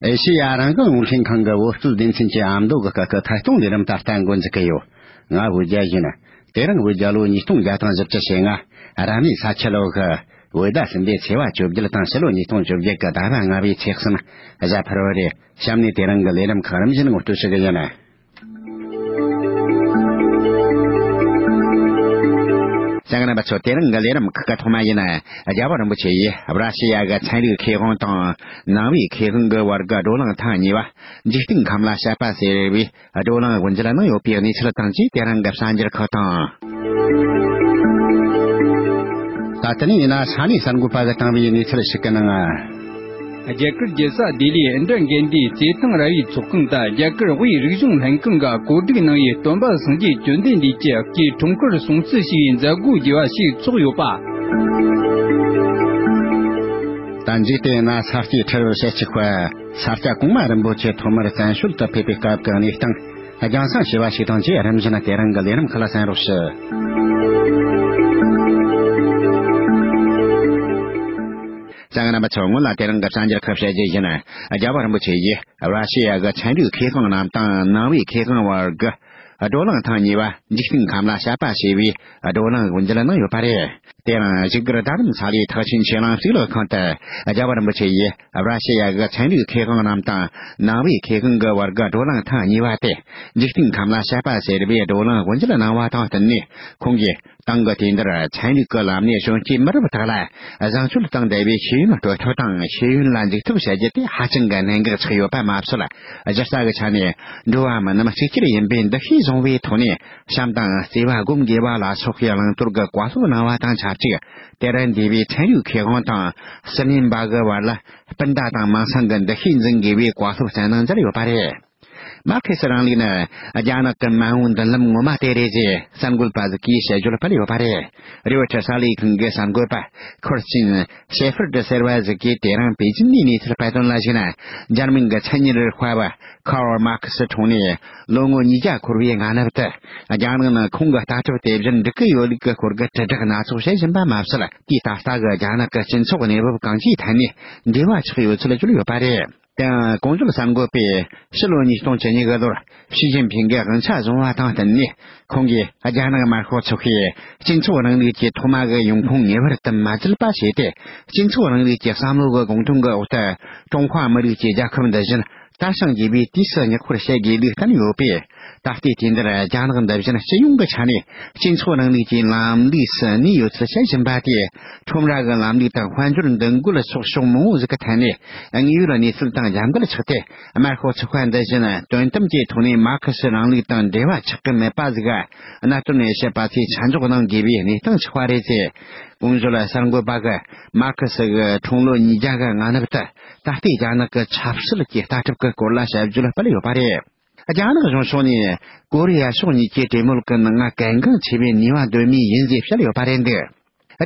ཨེ་ཤེ་ཡ་རང་བཙན་རླུང་འཕྲིན་ཁང་གི་འོད་སྐུལ་སྡེ་ཚན་གྱི་ཨ་མདོ་གི་སྐད་ཁུ་ཐད་གཏོང་ལས་རིམ་ད་ལྟ་འགོ་འཛུགས་ཀྱི་ཡོད། ང་བོད་རྒྱལ་ཡིན། དེ་རིང་བོད་རྒྱལ་ལོ་ཉིས་སྟོང་བརྒྱ་དང་བཞི་བཅུ་ཞེ་ལྔ། རབ་གནས་ས་ཁྱི་ལོ་ཧི། བོད་ཟླ་གསུམ་པའི་ཚེས་བ་བཅོ་བརྒྱད་དང་ཕྱི་ལོ་ཉིས་སྟོང་བཅོ་བརྒྱད་ཀྱི་ཟླ་བ་ལྔ་བའི་ཚེས་གསུམ། གཟའ་ཕུར་བ་རེད། གཤམ་ནས་དེ་རིང་གི་ལས་རིམ་ཁག་རིམ་བཞིན་ངོ་སྤྲོད་བྱེད་ཀྱི་ཡིན། ལྕགས་རམ་པ་ཚོ་དེ་རིང་གི་ལས་རིམ་ཁག་གི་ཐོག་མ་ཡིན། རྒྱལ་བ་རིན་པོ་ཆེ་ཡིས་ར་ཤི་ཡ་གི་ཚན་རིག་ཁེ་དབང་དང་ནང་བའི་ཁེ་དབང་གི་བར་གྱི་བགྲོ་གླེང་ཐེངས་གཉིས་པ་འཇིག་རྟེན་ཁམས་ལ་བཤད་པ་ཟེར་བའི་བགྲོ་གླེང་དབུ་འབྱེད་གནང་ཡོད་པའི་གནས་ཚུལ་དང་བཅས་དེ་རིང་གི་གསར་འགྱུར་ཁག་དང། ད་ལྟ་ནས་ཡིན་ན་ས་གནས་གསར་འགོད་པ་གིས་བཏང་བའི་གནས་ཚུལ་ཞིག་གི་ནང། རྒྱ་གར་རྒྱལ་ས་ལྡི་ལིའི་ཨིནྡྲ་གནྡྷི་རྩེད་ཐང་ར་བའི་ཚོགས་ཁང་དང་རྒྱ་གར་དབུས་རིག་གཞུང་ལྷན་ཁང་གིས་གོ་སྒྲིག་གནང་བའི་སྟོན་པ་སངས་རྒྱས་བཅོལ་ལྡན་འདས་ཀྱི་སྐྱིལ་ཀྲུང་གུར་སྲུང་བརྩི་ཞུ་བའི་མཛད་སྒོ་རྒྱས་པ་ཞིག་ཚོགས་ཡོད་པ། དང་འཇིག་རྟེན་ན་ས་སྐྱའི་ཁྲི་རལ་ཞལ་གཅིག་པ་ས་སྐྱ་གོང་མ་རིན་པོ་ཆེ་ཐོག་མར་བཙན་བྱོལ་དུ་ཕེབས་པའི་སྐབས་ཀྱི་གནས་སྟངས་རྒྱང་སྲང་ཞེས་པ་ཞིག་དང་བཅས་རིམ་བཞིན་དེ་རིང་གི་ལས་རིམ་ཁག་ལ་གསན་རོགས་ཞུ། གཙང་རིན་པོ་ཆེ་སྔོན་ལ་དེ་རིང་གི་བསམ་འཆར་ཁུར་བྱས་རྗེས་བཞིན། རྒྱལ་བ་རིན་པོ་ཆེ་ཡིས་ར་ཤི་ཡ་གི་ཚན་རིག་མཁས་གང་རྣམས་དང་ནང་བའི་མཁས་གང་བར་གྱི་བགྲོ་གླེང་ཐེངས་གཉིས་པ་འཇིག་རྟེན་ཁམས་ལ་ཤར་པ་ཞེས་པའི་བགྲོ་གླེང་དབུ་འབྱེད་གནང་ཡོད་པ་རེད། དེ་རིང་གཞིས་སྒར་རྡ་རམ་ས་ལའི་ཐག་ཆེན་ཆོས་གླིང་གཙུག་ལག་ཁང་དུ་རྒྱལ་བ་རིན་པོ་ཆེ་ཡིས་ར་ཤི་ཡ་གི་ཚན་རིག་མཁས་གང་རྣམས་དང་ནང་བའི་མཁས་གང་གི་བར་གྱི་བགྲོ་གླེང་ཐེངས་གཉིས་པ་དེ་འཇིག་རྟེན་ཁམས་ལ་ཤར་པ་ཞེས་པའི་བགྲོ་གླེང་དབུ་འབྱེད་གནང་བ་དང་བསྟུན་ནས་ཁོང་གིས་ཏང་གི་དུས་འདིར་ཚན་རིག་གི་ལམ་ནས་གཞོན་སྐྱེས་མི་རབས་དག་ལ་བཟང་སྤྱོད་དང་འབྲེལ་བའི་ཤེས་ཡོན་སྤྲོད་ཐབས་དང་ཤེས་ཡོན་ལ་འཇུག་ཐབས་བྱ་རྒྱུ་དེ་ཧ་ཅང་གི་གནད་འགག་ཆགས་ཡོད་པ་མ་ཟད། གཞི་རྩ་གི་ཆ་ནས་འགྲོ་བ་མི་རྣམས་གཅིག་གྱུར་ཡིན་པའི་འདུ་ཤེས་བཟུང་བའི་ཐོག་ནས་བྱམས་དང་བརྩེ་བ་སྒོམ་དགོས་པ་ལ་སོགས་ཀྱི་བླང་དོར་གྱི་བཀའ་སློབ་གནང་བ་དང་ཆབས་ཅིག་དེར་འདུས་པའི་ཚན་རིག་མཁས་དབང་དང་སི་ནིམ་པ་གི་བར་ལ་སྤུན་ཟླ་དང་མིང་སྲིང་གི་འདུ་ཤེས་འཛིན་དགོས་པའི་བཀའ་སློབ་སྩལ་གནང་མཛད་ཡོད་པ་རེད། མར་ཁེ་སི་རིང་ལུགས་ནི་རྒྱ་ནག་གི་མ་འོངས་མདུན་ལམ་ངོ་མ་དེ་རེད་ཅེས་གསར་འགོད་པ་ཟི་ཀིའི་དཔྱད་བརྗོད་སྤེལ་ཡོད་པ་རེད། རེའུ་ཆ་གསར་ལས་ཁང་གི་གསར་འགོད་པ་ཁོར་ཅིན་ཤེ་ཧྥར་དུ་ཟེར་བ་ཟི་ཀིས་དེ་རིང་པེ་ཅིན་ནས་གནས་ཚུལ་སྤེལ་དོན་ལ་གཞིགས་ན་འཇར་མན་གྱི་མཚན་ཉིད་རིག་པ་བ Karl Marx དྲུང་ནས་ལོ་ངོ་ཉིས་བརྒྱ་འཁོར་བའི་སྔ་ནུབ་ཏུ་རྒྱ་ནག་ནང་ཁོང་གི་ལྟ་གྲུབ་དེ་བཞིན་འགྲིག་གི་ཡོད་ལུགས་ཀྱི་སྐོར་གྱི་དྲིལ་བསྒྲགས་སྣ་ཚོགས་བྱེད་བཞིན་པ་མ་ཟད་དུས་ད་ལྟ་གི་རྒྱ་ནག་གི་སྤྱི་ཚོགས་གནས་བབ་གང་ཅིའི་ཐད་ནས་འབྲེལ་བ་ཆགས་ཡོད་ཚུལ་བརྗོད་ཡོད་པ་རེད། ཏང་ཀྲུང་དབྱང་གསར་འགོད་པས་ཕྱི་ལོ་ཉིས་སྟོང་བཅུ་ཉི་དགུ་ལོར་ཞི་ཅིན་ཕིང་གི་དབང་ཆ་བཟུང་བ་དང་བསྟུན་ནས་ཁོང་གིས་རྒྱ་ནག་དམར་ཤོག་ཚོགས་པའི་སྤྱི་ཚོགས་རིང་ལུགས་ཀྱི་ཐོག་མ་གི་ཡོང་ཁུངས་ངེས་པར་དུ་མ་རྩིས་པ་བྱས་ཏེ་སྤྱི་ཚོགས་རིང་ལུགས་ཀྱི་བསམ་བློ་གི་དགོངས་དོན་གྱི་འོག་ཏུ་ཀྲུང་ཧྭ་མི་རིགས་ཀྱི་རྒྱལ་ཁབ་འདི་བཞིན་དར་ཞིང་རྒྱས་པའི་དུས་སུ་ཉི་ཤུར་བྱེད་དགོས་ལུགས་བསྟན་ཡོད་པས། ད་ལྟའི་དུས་འདིར་རྒྱ་ནག་འདི་བཞིན་སྤྱི་ཡོངས་ཀྱི་ཆ་ནས་སྤྱི་ཚོགས་རིང་ལུགས་ཀྱི་ལམ་ལུགས་སུ་གནས་ཡོད་ཚུལ་བཤད་བཞིན་པ་དེས་ཁྲོམ་ར་གི་ལམ་ལུགས་དང་དཔལ་འབྱོར་འདུ་འགོད་སོགས་ཕྱོགས་མང་པོ་ཞིག་གི་ཐད་ནས་དངོས་ཡོད་གནས་ཚུལ་དང་རྒྱབ་འགལ་ཆགས་ཏེ་དམར་ཤོག་ཚོགས་པ་འདི་བཞིན་དོན་དམ་གྱི་ཐོག་ནས་མར་ཁེ་སི་རིང་ལུགས་དང་འབྲེལ་བ་ཆགས་ཀྱི་མེད་པ་ཟིག་གནད་དོན་ནས་བཤད་པ་ཚོས་ཆ་འཇོག་གནང་དགོས་པའི་གནས་སྟངས་ཆགས་པ་རེད། གོང་བརྗོད་གསར་འགོད་པ་གིས་མར་ཁེ་སི་གི་འཁྲུངས་ལོ་ཉིས་བརྒྱ་ག་ང་ནུབ་ཏུ་ད་ལྟའི་རྒྱ་ནག་གི་ཆབ་སྲིད་ཀྱི་ལྟ་གྲུབ་ཀྱི་སྐོར་ལ་ཞིབ་བརྗོད་སྤེལ་ཡོད་པ་རེད། རྒྱ་ནག་གཞུང་ཕྱོགས་ནས་ཀོ་རི་ཡ་ཕྱོགས་གཉིས་ཀྱི་གྲོས་མོལ་གྱི་ནང་ང་གལ་འགངས་ཆེ་བའི་ནུས་པ་འདོན་མུས་ཡིན་ཞེས་བཤད་ཡོད་པ་རེད་འདུག་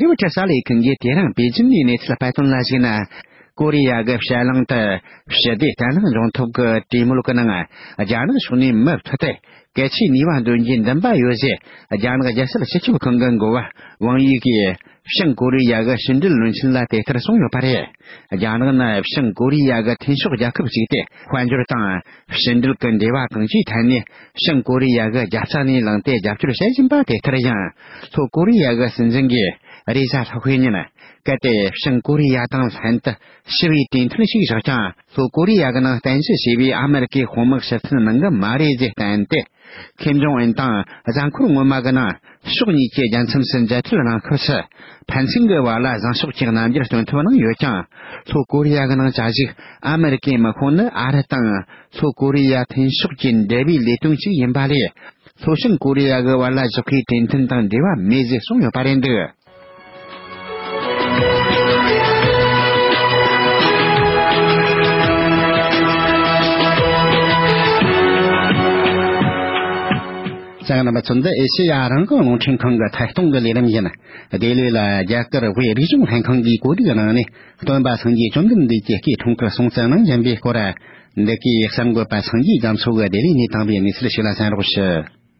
རི་བོ་ཁྲི་ས་ལའི་གིང་གིས་དེ་རིང་པེ་ཅིན་གྱི་གནས་ཚུལ་སྤེལ་དོན་ལ་གཞིགས་ན། ཀོ་རི་ཡ་གྱི་ཕྱི་གླིང་དུ་ཞི་བདེ་བརྟན་ལྷིང་ཡོང་ཐབས་ཀྱི་གྲོས་མོལ་གྱི་ནང་རྒྱ་ནག་ཕྱོགས་ནས་མུ་མཐུད་དེ་གལ་ཆེའི་ནུས་པ་འདོན་རྒྱུའི་འདུན་པ་ཡོད་ཅེས་རྒྱ་ནག་རྒྱལ་སྲིད་སྤྱི་ཁྱབ་ཁང་གི་འགོ་བ་ཝང་དབྱིས་ཀྱིས་བྱང་ཀོ་རི་ཡ་གི་ཕྱི་འབྲེལ་བློན་ཆེན་ལ་དེ་ལྟར་གསུངས་ཡོད་པ་རེད། རྒྱ་ནག་ནི་བྱང་ཀོ་རི་ཡ་གི་མཐུན་ཕྱོགས་རྒྱལ་ཁབ་ཅིག་སྟེ་དཔལ་འབྱོར་དང། ཕྱི་འབྲེལ་གྱི་འབྲེལ་བ་གང་ཅིའི་ཐད་ནས་བྱང་ཀོ་རི་ཡ་གི་རྒྱབ་རྩ་ནས་ལངས་ཏེ་རྒྱབ་སྐྱོར་བྱེད་བཞིན་པ་དེ་ལྟར་ཡང། ལྷོ་ཀོ་རི་ཡ་གི་སྲིད་འཛིན་གྱི་རེས་གཟའ་ལྷག་པའི་ཉིན། གལ་ཏེ་བྱང་ཀོ་རི་ཡ་དང་ལྷན་དུ་ཞི་བའི་གྲོས་མཐུན་ཞིག་བཞག་ཀྱང་ལྷོ་ཀོ་རི་ཡ་གི་ནང་བསྟན་ཞི་ཞེས་པའི་ཨ་མི་རི་ཀའི་དཔུང་དམག་ཞིབ་མཚོན་གནང་གི་མ་རེད་ཅེས་བསྟན་ཏེ། ཁེམ་ཇོང་ཨན་དང་རྫ་འཁོར་སྔོན་མ་གི་ནང་ཕྱོགས་གཉིས་ཀྱི་རྒྱལ་མཚམས་སུ་མཇལ་འཕྲད་གནང་སྐབས་སུ་ཕན་ཚུན་གྱི་བར་ལ་བཟང་ཕྱོགས་ཀྱི་རྣམ་འགྱུར་སྟོན་ཐུབ་གནང་ཡོད་ཀྱང་ལྷོ་ཀོ་རི་ཡ་གི་ནང་བཅའ་གཞུག་ཨ་མི་རི་ཀའི་དམག་ཁོངས་ནི་ཨ་རི་དང་ལྷོ་ཀོ་རི་ཡ་མཐུན་ཕྱོགས་ཀྱི་འབྲེལ་བའི་ལས་དོན་ཅིག་ཡིན་པ་ལས་ལྷོ་བྱང་ཀོ་རི་ཡ་གི་བར་ལ་བཞག་ཁའི་གྲོས་མཐུན་དང་འབྲེལ་བ་མེད་ཅེས་གསུངས་ཡོད་པ་རེད་འདུག། ཚང་མ་ཚོན་དུ་ཨེ་ཤི་ཡ་རང་གི་རླུང་འཕྲིན་ཁང་གི་ཐད་གཏོང་གི་ལས་རིམ་ཡིན། དེ་ལོས་ལ་རྒྱ་གར་བོད་རིག་གཞུང་ལྷན་ཁང་གི་གོ་སྒྲིག་གནང་ནས་སྟོན་པ་སངས་རྒྱས་བཅོམ་ལྡན་འདས་ཀྱི་སྐྱེས་ཐོང་གི་སྲོང་བཙན་གནང་བཞིན་པའི་སྐོར། འདི་གའི་གསར་འགོད་པ་སངས་རྒྱས་རྒྱ་མཚོ་གིས་དེ་བས་ནས་དྭངས་པའི་གནས་ཚུལ་ཞིག་ལ་བསམ་རོགས་ཞུ།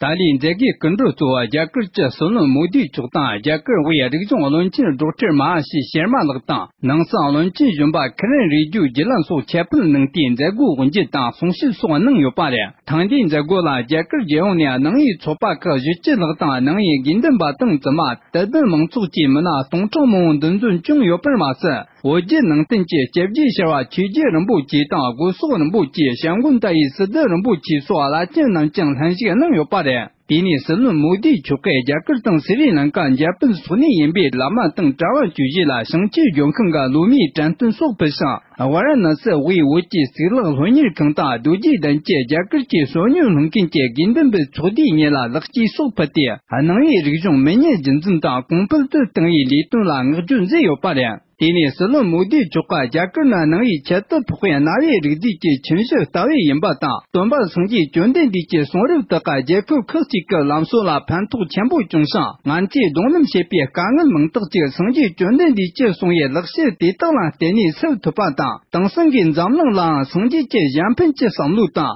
ཏཱ་ལའི་མཛད་དགེའི་སྐུ་མགྲོན་གཙོ་བོ་རྒྱ་གར་སྤྱི་ཟུར་ནོར་མུག་དུས་མཆོག་དང་རྒྱ་གར་བའི་རིག་གཞུང་བློན་ཆེན་སྒྲོག་ཁྲིར་མ་ཧ་ཤི་ཤར་མ་ལགས་དང་ནང་སང་བློན་ཆེན་གཞོན་པ་ཁི་རན་རིག་རྒྱུད་རྒྱུད་ལམ་སོགས་ཁྱད་པར་གནང་སྟེ་མཛད་སྒོའི་དབུ་འབྱེད་དང་གསུང་བཤད་སོགས་གནང་ཡོད་པ་རེད་ཐང་དེའི་མཛད་སྒོ་ལ་རྒྱ་གར་རྒྱལ་ཡོངས་ནས་ནང་ཡའི་ཚོགས་པ་ཁག་བཞི་བཅུ་ལྷག་དང་ནང་ཡའི་དགེ་འདུན་པ་སྟངས་བཙུན་མ་དད་ལྡན་མང་ཚོགས་བཅས་མི་སྣ་སྟོང་ཕྲག་མང་བོ་འདུ་འཛོམས་བྱུང་ཡོད་པར་མ་ཟད། འོ་བརྒྱལ་ནང་བསྟན་བཅས་བཅོ་བརྒྱད་ཤར་བ་ཆོས་རྒྱལ་རིན་པོ་ཆེ་དང་དགུ་སོག་རིན་པོ་ཆེ་ཞང་དགུ་མཐའ་ཡས་སྲིད་སྡེ་རིན་པོ་ཆེ་སོགས་བླ་ཆེན་རྣམས་བསྐྱངས་ལྷན་ཞིག་གནང་ཡོད་པ་རེད། དེ་ནས་སྲིད་བློན་མོ་དིའི་ཆོལ་ཁའི་རྒྱ་གར་དང་སི་རི་ལང་ཀཱ་འཇར་པན་སོགས་ནས་ཡིན་པའི་བླ་མ་དང་གྲྭ་བ་ཅུ་བཞི་ལ་ཞིང་ཆེན་ལྗོངས་ཁང་གི་བློ་མིའི་དྲན་སྟོན་སོགས་ཕུལ་ཞིང་ཝཱ་ར་ནཱ་སི་དབུས་བོད་ཀྱི་གཙུག་ལག་སློབ་གཉེར་ཁང་དང་རྡོ་རྗེ་གདན་བཅས་རྒྱ་གར་གྱི་གསོལ་སྙུན་སློང་མཁན་གྱི་དགེ་འདུན་པའི་ཚོགས་འདི་ཉིད་ལ་ལེགས་སྐྱེས་སོགས་ཕུལ་ཏེ། ནང་ཡིག་རིག་གཞུང་མི་སྙན་རྒྱུན་འཛིན་དང་གོང་སྤེལ་དུ་ཏང་ཡིག་ལས་དོན་ལ་བསྔགས་བརྗོད་མཛད་ཡོད་པ་རེད། དེ་ནི་སྲིད་བློན་མོ་དིའི་ཕྱོགས་ཁག་རྒྱ་གར་ནང་ནང་ཡིག་ཁྱད་དུ་འཕགས་པའི་གནའ་བོའི་རིག་རྫས་ཀྱི་ཁྱིམ་གཞི་ལྟ་བུ་ཡིན་པ་དང་སྟོན་པ་སངས་རྒྱས་བཅོན་ལྡན་འདས་ཀྱི་གསུང་རབ་དག་ཀ་རྒྱལ་ཁབ་ཁག་ཅིག་གི་ལམ་སྲོལ་ལ་ཕན་ཐོགས་ཆེན་པོ་བྱུང་ཞིང་ང་ཚོས་གདོང་ལེན་བྱེད་པའི་དཀའ་ངལ་མང་དག་ཅིག་སངས་རྒྱས་བཅོན་ལྡན་འདས་ཀྱིས་གསུང་བའི་ལེགས་བཤད་དེ་དག་ལ་བརྟེན་ནས་སེལ་ཐུབ་པ་དང་དེང་སང་གི་འཛམ་གླིང་ལའང་སངས་རྒྱས་ཀྱི་གཞན་ཕན་གྱི་བསམ་བློ་དང།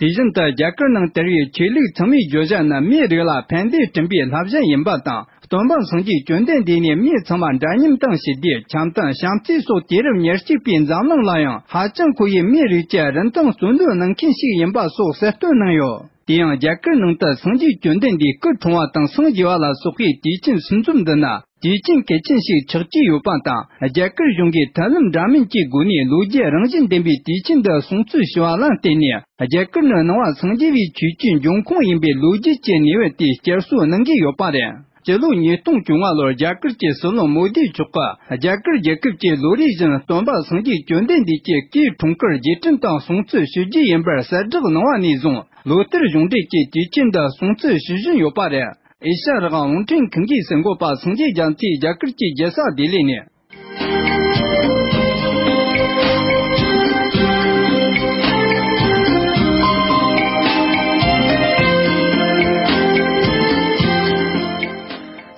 དེ་བཞིན་དུ་རྒྱ་གར་ནང་དེར་ཡོད་ཆོས་ལུགས་ཚང་མའི་བརྗོད་བྱ་ནི་མིའི་རིགས་ལ་ཕན་བདེ་སྐྲུན་པའི་བསླབ་བྱ་ཡིན་པ་དང་སྟོན་པ་སངས་རྒྱས་བཅོན་ལྡན་འདས་ནས་མི་ཚང་མར་འདྲ་མཉམ་དང་ཞི་བདེ་བྱམས་དང་བྱམས་བརྩེ་སོགས་དུས་རབས་ཉེར་གཅིག་པའི་འཛམ་གླིང་ལ་ཡང་ཧ་ཅང་མཁོ་བའི་མིའི་རིགས་ཀྱི་རིན་ཐང་ཟུར་འདོན་གནང་མཁན་ཞིག་ཡིན་པ་སོགས་གསལ་སྟོན་གནང་ཡོད། དེ་ཡང་རྒྱ་གར་ནང་དུ་སངས་རྒྱས་བཅོན་ལྡན་འདས་སྐུ་གྲོངས་བ་དང་སངས་རྒྱས་བ་ལ་སོགས་པའི་དུས་ཆེན་སྲུང་འཛོམས་འདི་ནི། དེའི་རྐྱེན་གལ་ཆེན་ཞིག་ཆགས་ཀྱི་ཡོད་པ་དང་རྒྱ་གར་གཞུང་གིས་ཐབས་ལམ་འདྲ་མིན་གྱི་སྒོ་ནས་ལོ་བརྒྱའི་རང་བཞིན་ལྡན་པའི་དུས་ཆེན་འདི་སྲུང་བརྩི་ཞུ་བ་ལ་བརྟེན་ནས་རྒྱ་གར་ནི་སྣང་བ་འཚང་རྒྱ་བའི་ཆོས་བརྒྱུད་འབྱུང་ཁུངས་ཡིན་པའི་ལོ་རྒྱུས་ཀྱི་ནུས་བ་དེ་བསྐྱར་གསོ་གནང་གི་ཡོད་པ་རེད། སྤྱི་ལོ་ཉིས་སྟོང་བཅུ་ལྔ་ལོར་རྒྱ་གར་གྱི་སྲིད་བློན་མོ་དཱི་མཆོག་གིས་རྒྱ་གར་རྒྱལ་ཁབ་ཀྱི་ལོ་རེ་བཞིན་སྟོན་པ་སངས་རྒྱས་བཅོལ་ལྡན་འདས་ཀྱི་སྐུའི་འཁྲུངས་སྐར་རྗེས་དྲན་དང་སྲུང་བརྩི་ཞུ་རྒྱུ་ཡིན་པར་གསལ་བསྒྲགས་གནང་བ་ནས་བཟུང་ལོ་ལྟར་གཞུང་འབྲེལ་གྱི་དུས་ཆེན་འདི་སྲུང་བརྩི་ཞུ་བཞིན་ཡོད་པ་རེད། ཨེ་ཤ་རི་ཨང་ཝུན་ཀྲེང་ཁིན་གྱིས་ཟིན་གོ་པ་སངས་རྒྱས་རྒྱལ་མཚེས་རྒྱ་གར་གྱི་རྒྱལ་ས་ལྡི་ལི་ནས།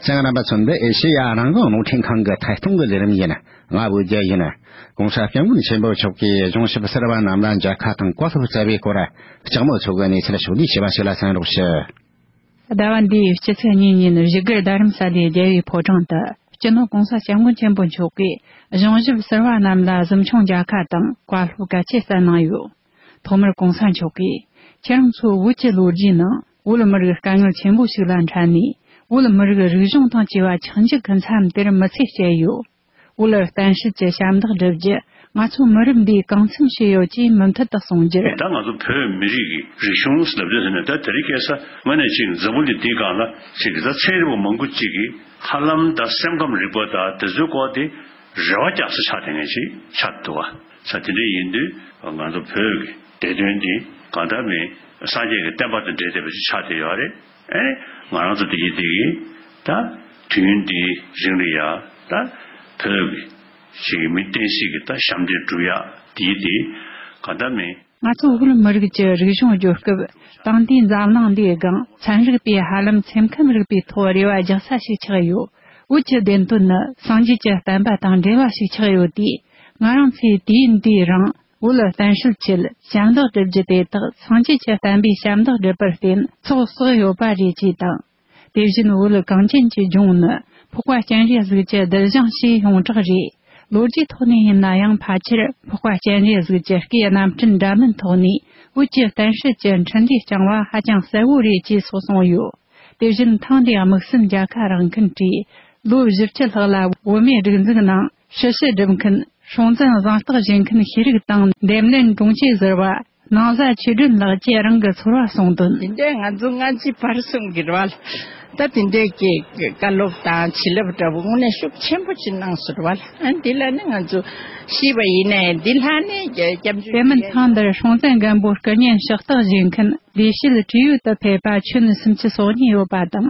ཚེ་རིང་པ་མཚོ་འདི་ཨེ་ཤེ་ཡ་རང་བཙན་རླུང་འཕྲིན་ཁང་གི་ཐད་གཏོང་གི་ལས་རིམ་ཡིན། ང་བོད་རྒྱལ་ཡིན། གོང་ས་སྐྱབས་མགོན་ཆེན་པོ་མཆོག་གིས་གཞུང་ཞབས་གསར་པ་རྣམས་ལ་མཇལ་ཁ་དང་བཀའ་སློབ་སྩལ་བའི་སྐོར། ལྕགས་མོ་མཚོ་གི་གནས་ཚུལ་ཞུ་ལུགས་ཞེས་པ་ཞིག་ལ་གསན་རོགས་ཞུ། ཟླ་བ་འདིའི་སྤྱི་ཚེས་གཉིས་ཉིན་བཞི་སྒར་རྡ་རམ་ས་ལའི་རྒྱལ་བའི་ཕོ་བྲང་དུ་སྤྱི་ནོར་གོང་ས་སྐྱབས་མགོན་ཆེན་པོ་མཆོག་གིས་གཞུང་ཞབས་ཟུར་བ་རྣམས་ལ་གཟིམ་ཆུང་རྒྱལ་ཁ་དང་བཀའ་སློབ་གལ་ཆེ་གསན་གནང་ཡོད། ཐོག་མར་གོང་ས་མཆོག་གིས་ཁྱེད་རང་ཚོའི་བོད་ཀྱི་ལོ་རྒྱུས་ནང་བོད་མི་རིགས་དཀའ་ངལ་ཆེན་པོ་ཞིག་ལ་འཕྲད་ནས་བོད་མི་རིགས་རིག་གཞུང་དང་བཅས་པ་འཆིང་རྒྱུ་གི་མཚམས་དེར་མི་ཚེ་བསྐྱལ་ཡོད། དབུ་ལ་གཏན་བཤིག་གྱི་ཞབས་འདེགས་སྒྲུབ་རྒྱུ་ང་ཚོ་མི་རིགས་འདིས་གང་འཚམ་ཤེས་ཡོད་ཀྱིས་མུ་མཐུད་དུ་གསུང་རྒྱུར། ད་ང་ཚོ་བོད་མི་རིགས་ཀྱི་རིག་གཞུང་ལབ་རྒྱུ་དེ་ནི་ད་དེ་རིགས་སྐྱེ་ས་ང་ནི་གཅིག་འཛམ་བུ་འདི་འདིའི་སྒང་ལ་གཅིག་གི་ད་ཚན་རིག་པ་མང་པོ་གཅིག་གི་ཧ་ལམ་ད་སེམས་ཁམས་རིག་པ་ད་དེ་ཚོའི་སྐོར་དེ་རེ་བ་རྒྱག་ས་ཆགས་དེ་ངས་ཅིག་ཆགས་འདུག་ཨ་ས་དེ་འདྲས་ཡིན་དུས་ང་ཚོ་བོད་ཀྱི་བདེ་དོན་དེ་གང་ལྟར་མིན་སངས་རྒྱས་ཀྱི་བསྟན་པ་དང་འབྲེལ་བསྡད་པ་ཅིག་ཆགས་དེ་ཡོད་རེད། ཨེ། ང་རང་ཚོ་དེ་བཞིན་དེ་གིས་ད། དུས་ཡུན་འདི་རིང་རི་ཡག་ད། བོད། ཞིག་གི་མི་བསྟན་སྲིད་ཀྱི་ད་ཞབས་འདེགས་བསྒྲུབ་ཡག་དེ་ཡིས་དེ། ག་ད་མི། ང་ཚོ་བོད་མི་རིགས་ཀྱི་རིག་གཞུང་བསྒྱུར་སྐབས་དང་དུས་འཛམ་གླིང་འདིའི་སྒང་ཚན་རིག་པས་ཧ་ལམ་སེམས་ཁམས་རིག་པའི་ཐོག་རེ་བ་རྒྱག་ས་ཞིག་ཆགས་ཡོད། བོད་ཀྱི་བདེན་དོན་ནི་སངས་རྒྱས་ཀྱི་བསྟན་པ་དང་འབྲེལ་བ་ཞིག་ཆགས་ཡོད་དུས། ང་རང་ཚོས་དུས་ཡུན་འདིའི་རིང། དབུ་ལ་བརྟན་བཞུགས་ཆེད་ཞབས་འདེགས་སྒྲུབ་རྒྱུ་དེ་དག་སངས་རྒྱས་ཀྱི་བསྟན་པའི་ཞབས་འདེགས་སྒྲུབ་པར་བརྟེན་ཚོགས་བསགས་ཡོད་པ་རེད་ཅེས་དང། དེ་བཞིན་དབུ་ལ་གངས་ཅན་གྱི་ལྗོངས་ནི་ཕོག་པ་སྤྱན་རས་གཟིགས་ཀྱི་གདུལ་བྱང་ཞིག་ཡོངས་གྲགས་རེད། ལོ་རྒྱུས་ཐོག་ནས་ཡིན་ན་ཡང་ཕལ་ཆེར་ཕོག་པ་སྤྱན་རས་གཟིགས་ཀྱི་སྐེའི་རྣམ་འཕྲུལ་འདྲ་མིན་ཐོག་ནས་དབུ་ཀྱི་བརྟན་བཞུགས་ཀྱི་འཕྲིན་ལས་བསྐྱངས་བ་ཧ་ཅང་གསལ་བོ་རེད་ཅེས་སོགས་གསུངས་ཡོད། དེ་བཞིན་ཐེངས་འདིའི་དམིགས་བསལ་མཇལ་ཁ་རང་ཁུལ་གྱིས་ལོ་བཞི་བཅུ་ལྷག་ལ་བོད་མིའི་སྒྲིག་འཛུགས་ནང་ཞི་བྱེད་སྒྲུབ་མཁན་སྲུང་བཙན་བཟང་རྟགས་བཞེས་མཁན་ཤེས་རིག་དང་འདེམས་ལྷན་དྲུང་ཆེ་ཟེར་བ་ནང་བཟའ་ཆོས་སྒྲོན་ལགས་བཅས་རང་གི་ཚོར་བ་གསུངས་དོན། དེ་འདྲའི་ང་ཚོ་སྔ་ཕྱི་བར་གསུམ་གྱི་རོལ་དབྱངས་ལྟ་དེ་འདྲའི་སྐད་བཀའ་སློབ་དང་བྱིན་རླབས་འདྲ་བོ་དངོས་གནས་ཤུགས་ཆེན་པོ་ཞིག་གནང་ཟུར་བ་ལ་འདི་ལ་ནི་ང་ཚོ་ཤེས་པ་ཡིན་ནའི་འདི་ལྷ་ནས་སྐྱབས་འཇུག་དེ་མིན་ཐེངས་འདིར་སྲུང་བཙན་སྒམ་པོ་སྐུ་བརྙན་ཕྱག་རྟགས་བཞེས་མཁན་ལས་བྱེད་བྲིས་ཡོད་དུ་ཕེབས་པ་ཆོས་ནི་སུམ་ཅུ་སོ་གཉིས་ཡོད་པ་དང་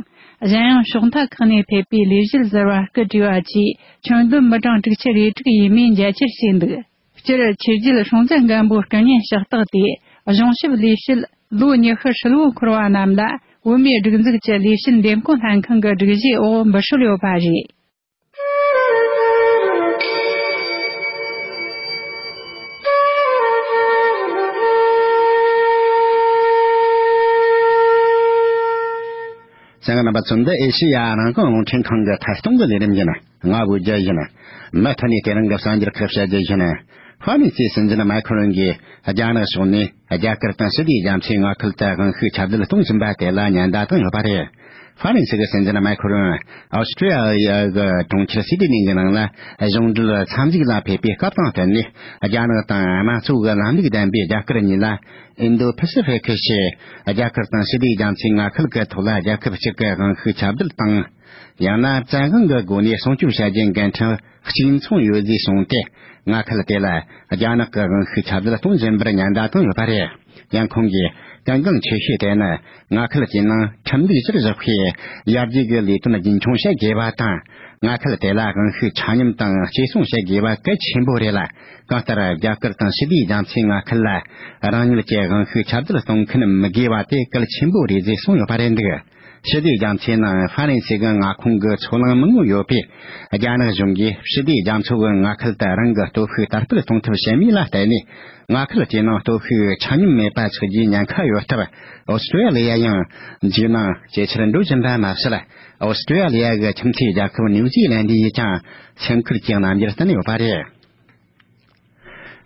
གཞན་ཡང་ཕྱོགས་མཐའ་ཁག་ནས་ཕེབས་པའི་ལས་བྱེད་ཟེར་བ་སྐུ་བྲིས་བ་བཅས་ཆང་དུམ་མི་གྲངས་དྲུག་ཁྱི་རེ་དྲུག་ཡས་མས་མཇལ་ཁྱེར་བྱས་འདུག་སྤྱིར་ཕྱི་རྒྱལ་སྲུང་བཙན་སྒམ་པོའི་སྐུ་བརྙན་ཕྱག་རྟགས་དེ་གཞུང་ཞབས་ལས་བྱེད་ལོ་ཉི་ཤུ་ཧྲིལ་བོ་འཁོར་བ་རྣམས་ལ་བོད་མིའི་སྒྲིག་འཛུགས་ཀྱི་ལས་བྱེད་འདེམས་བསྐོ་ལྷན་ཁང་གི་སྒྲིག་གཞིའི་འོག་འབུལ་ཞོར་ཡོད་པ་རེད། ཚན་རིག་རྣམ་པ་ཚོས་འདི་ཨེ་ཤེ་ཡ་རང་བྱུང་རླུང་འཕྲིན་ཁང་གི་མཐའ་སྟོང་གི་ལས་རིམ་ཡིན། ང་དབུས་རྒྱལ་ཡིན། མུ་མཐུད་ནས་དེ་རིང་གི་གསར་འགྱུར་ཁུར་བྱ་རྒྱུ་ཡིན། ཧྥ་རན་སིའི་སྲིད་འཛིན་མཱེ་ཁོ་རོན་གྱིས་རྒྱ་ནག་ཕྱོགས་ནས་རྒྱ་གར་དང་ཞི་བདེའི་རྒྱ་མཚོའི་མངའ་ཁུལ་དུ་དབང་ཤུགས་ཁྱབ་གདལ་གཏོང་བཞིན་པ་དེ་ལ་ཉེན་བརྡ་བཏང་ཡོད་པ་རེད། ཧྥ་རན་སི་གི་སྲིད་འཛིན་མཱེ་ཁོ་རོན Australia གི་གྲོང་ཁྱེར་སི་ཏི་ནི་གི་ནང་ལ་གཞུང་འབྲེལ་འཚམས་གཟིགས་ལ་ཕེབས་པའི་སྐབས་དང་བསྟུན་ནས་རྒྱ་ནག་དང་དམངས་གཙོའི་ལམ་ལུགས་ལྡན་པའི་རྒྱ་གར་གཉིས་ལ་ཨིན་རྡུ་ཕི་སི་ཧྥི་ཀི་ཞེས་རྒྱ་གར་དང་ཞི་བདེའི་རྒྱ་མཚོའི་མངའ་ཁུལ་གྱི་ཐོག་ལ་རྒྱལ་ཁབ་གཅིག་གི་དབང་ཤུགས་ཁྱབ་གདལ་དང། ཡང་ན་བཙན་དབང་གི་སྒོ་ནས་སྲུང་སྐྱོབ་བྱ་རྒྱུའི་འགན་འཁྲི་གཅིག་མཚུངས་ཡོད་རྫུས་བྱུང་སྟེ་མངའ་ཁུལ་དེ་ལ་རྒྱ་ནག་གི་དབང་ཤུགས་ཁྱབ་གདལ་གཏོང་བཞིན་པར་ཉེན་བརྡ་བཏང་ཡོད་པ་རེད། ཡང་ཁོང་གིས་གལ་འགངས་ཆེ་ཤོས་དེ་ནི་མངའ་ཁུལ་དེའི་ནང་ཁྲིམས་ལུགས་གཞིར་བཞག་པའི་ཡར་རྒྱས་ཀྱི་ལས་དོན་རྒྱུན་འཁྱོངས་བྱེད་དགོས་པ་དང། མངའ་ཁུལ་དེ་ལ་དབང་ཤུགས་ཆ་སྙོམས་དང་གཅེས་སྲུང་བྱེད་དགོས་པ་གལ་ཆེན་པོ་རེད་ལ། གང་ལྟར་རྒྱ་གར་དང་ཞི་བདེའི་རྒྱ་མཚོའི་མངའ་ཁུལ་ལ་རང་ཉིད་ཀྱི་དབང་ཤུགས་ཁྱབ་གདལ་གཏོང་མཁན་མི་དགོས་པ་དེ་གལ་ཆེན་པོ་རེད་ཅེས་གསུངས་ཡོད་པ་རེད་འདུག་ཞི་བདེའི་རྒྱ་མཚོའི་ནང་ཧྥ་རན་སེ་གྱི་མངའ་ཁོངས་ཀྱི་ཚོ་ལངས་མི་མངོན་ཡོད་པས་རྒྱ་ནག་གཞུང་གིས་ཞི་བདེའི་རྒྱ་མཚོ་གི་མངའ་ཁུལ་དུ་རང་གི་སྟོབས་ཤུགས་དར་སྤེལ་གཏོང་ཐབས་བྱེད་མིན་ལ་བལྟས་ནས་མངའ་ཁུལ་དེའི་ནང་སྟོབས་ཤུགས་ཆ་སྙོམས་མེད་པ་ཚུགས་རྒྱུའི་ཉེན་ཁ་ཡོད་སྟབས་ཨོ་སི་ཀྲི་ཡ་ལི་ཡ་ཡང་འཇིགས་སྣང་ཇེ་ཆེར་འགྲོ་བཞིན་པ་མ་ཟད་ཨོ་སི་ཀྲི་ཡ་ལི་ཡ་གི་ཁྱིམ་མཚེས་རྒྱལ་ཁབ་ནིའུ་ཛི་ལན་དི་ཡིས་ཀྱང་ཚན་ཁུལ་གྱི་རྣམ་འགྱུར་བསྟན་ཡོད་པ་རེད།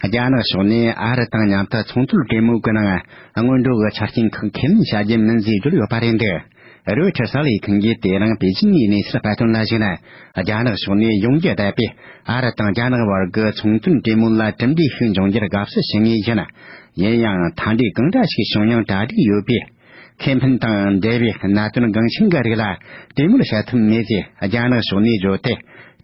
རྒྱ་ནག་ཕྱོགས་ནས་ཨ་རི་དང་མཉམ་དུ་ཚོང་དོན་གྲོས་མོལ་གྱི་ནང་སྔོན་འགྲོ་གི་ཆ་རྐྱེན་ཁག་ཁས་ལེན་བྱ་རྒྱུ་མིན་ཟེར་གྱི་ཡོད་པ་རེད་འདུག་རོའི་ཁྲི་ས་ལའི་ཐོན་རྫས་དེ་རིང་པེ་ཅིང་གི་གནས་ཚུལ་བར་སྟོན་ལ་གཞིགས་ན་རྒྱ་ནག་ཕྱོགས་ནས་ཡོངས་ཀྱི་བསྡད་པའི་ཨ་རི་དང་རྒྱ་ནག་བར་གྱི་ཚོང་དོན་གྲོས་མོལ་ལ་གྲུབ་འབྲས་ཤིག་འབྱུང་རྒྱུར་དགའ་བསུ་བྱེད་ངེས་ཡིན། ཡིན་ཡང་མཐའ་འབྲས་གང་འདྲ་ཞིག་བྱུང་ཡང་གྲ་སྒྲིག་ཡོད་པའི། ཁེ་ཕན་དང་འབྲེལ་བའི་གནད་དོན་འགངས་ཆེན་འགའ་རིགས་ལ་གྲོས་མོལ་བྱ་ཐུབ་མེད་ཅེས་རྒྱ་ནག་ཕྱོགས་ནས་བརྗོད་དེ།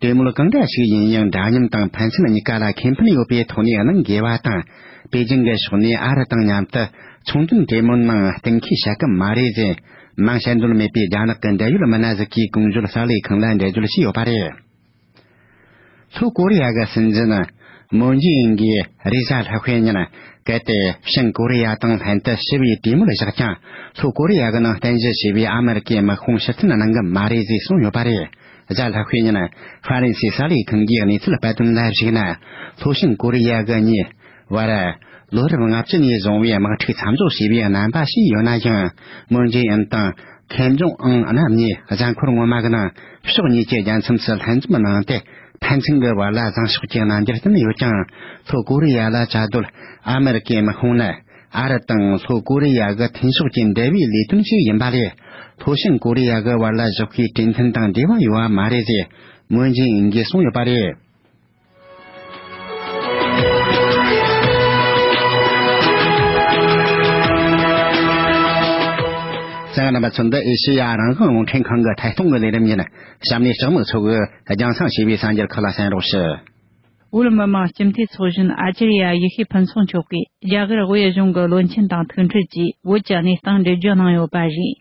གྲོས་མོལ་གང་འདྲ་ཞིག་ཡིན་ཡང་འདྲ་མཉམ་དང་ཕན་ཚུན་གཉིས་ཀ་ལ་ཁེ་ཕན་ཡོད་པའི་ཐོག་ནས་གནང་དགོས་པ་དང། པེ་ཅིང་གི་ཕྱོགས་ནས་ཨ་རི་དང་མཉམ་དུ་ཚོང་དོན་གྲོས་མོལ་ནང་གཏན་འཁེལ་བྱ་གི་མ་རེད་ཅེས་མང་དཔྱད་འདོད་མེད་པའི་རྒྱ་ནག་གི་འབྲེལ་ཡོད་མི་སྣ་ཟིག་གིས་གུང་གཞོན་གསར་ལས་ཁང་ལ་འགྲེལ་བརྗོད་བྱས་ཡོད་པ་རེད། ལྷོ་ཀོ་རི་ཡ་གི་སྲིད་འཛིན་མོན་ཇི་ཨིན་གྱིས་རེས་གཟའ་ལྷག་ཤོས་ཉིན་གལ་ཏེ་བྱང་ཀོ་རི་ཡ་དང་ལྷན་དུ་ཞི་བའི་གྲོས་མོལ་བཞག་ཀྱང་ལྷོ་ཀོ་རི་ཡ་གི་ནང་བསྟན་གཞི་ཞེས་པའི་ཨ་མི་རི་ཀའི་དམག་དཔུང་ཕྱིར་འཐེན་གནང་གི་མ་རེད་ཅེས་གསུངས་ཡོད་པ་རེད། གཟའ་ལྷག་ཤོས་ཉིན་ཧྥ་རན་སིའི་གསར་ལས་ཁང་གིས་གནས་ཚུལ་སྤེལ་དོན་ལ་གཞིགས་ན་ལྷོ་བྱང་ཀོ་རི་ཡ་གི་གཉིས་བར། ལོ་རབས་ལྔ་བཅུ་ནས་བཟུང་བའི་དམག་འཁྲུག་མཚམས་འཇོག་བྱས་པའི་རྣམ་པ་ཞིག་ཡོད་ན་ཡང་མོན་རྗེ་ཨན་དང་ཁེམ་ཇོང་ཨང་རྣམས་ནས་གཟའ་འཁོར་སྔོན་མ་གི་ནང་ཕྱོགས་གཉིས་ཀྱི་རྒྱལ་མཚམས་སུ་ལྷན་འཛོམས་གནང་སྟེ་ཕན་ཚུན་གྱི་བར་ལ་བཟང་ཕྱོགས་ཀྱི་རྣམ་འགྱུར་བསྟན་ཡོད་ཀྱང་ལྷོ་ཀོ་རི་ཡ་ལ་བཅའ་སྡོད་ཨ་མི་རི་ཀའི་དམག་དཔུང་ནི་ཨ་རི་དང་ལྷོ་ཀོ་རི་ཡ་གི་མཐུན་ཕྱོགས་ཀྱི་འབྲེལ་བའི་ལས་དོན་ཞིག་ཡིན་པ་ལས་ལྷོ་བྱང་ཀོ་རི་ཡ་གི་བར་ལ་བཞག་པའི་གྲོས་མཐུན་དང་འབྲེལ་བ་ཡོད་པ་མ་རེད་ཅེས་མོན་རྗེ་ཨན་གྱིས་གསུངས་ཡོད་པ་རེད། ཚང་རྣམ་པ་ཚོ་འདི་ཨེ་ཤེ་ཡ་རང་དབང་རླུང་འཕྲིན་ཁང་གི་ཐད་གཏོང་གི་ལས་རིམ་ཡིན། གཤམ་ནས་ལྕགས་མིག་ཚོ་གིས་རྒྱང་སྲང་ཞེས་པའི་གསང་རྒྱར་ཁག་ལ་གསན་རོགས་ཞུ། བོད་མི་མང་སྤྱི་འཐུས་ཚོགས་གཞོན་ཨ་ཅེ་རི་ཡ་ཡེ་ཤེས་ཕུན་ཚོགས་མཆོག་གིས་རྒྱ་གར་བོད་གཞུང་གི་བློན་ཆེན་དང་ཐུག་འཕྲད་ཀྱིས་བོད་ཀྱི་གནས་སྟངས་འགྲེལ་བརྗོད་གནང་ཡོད་པ་རེད།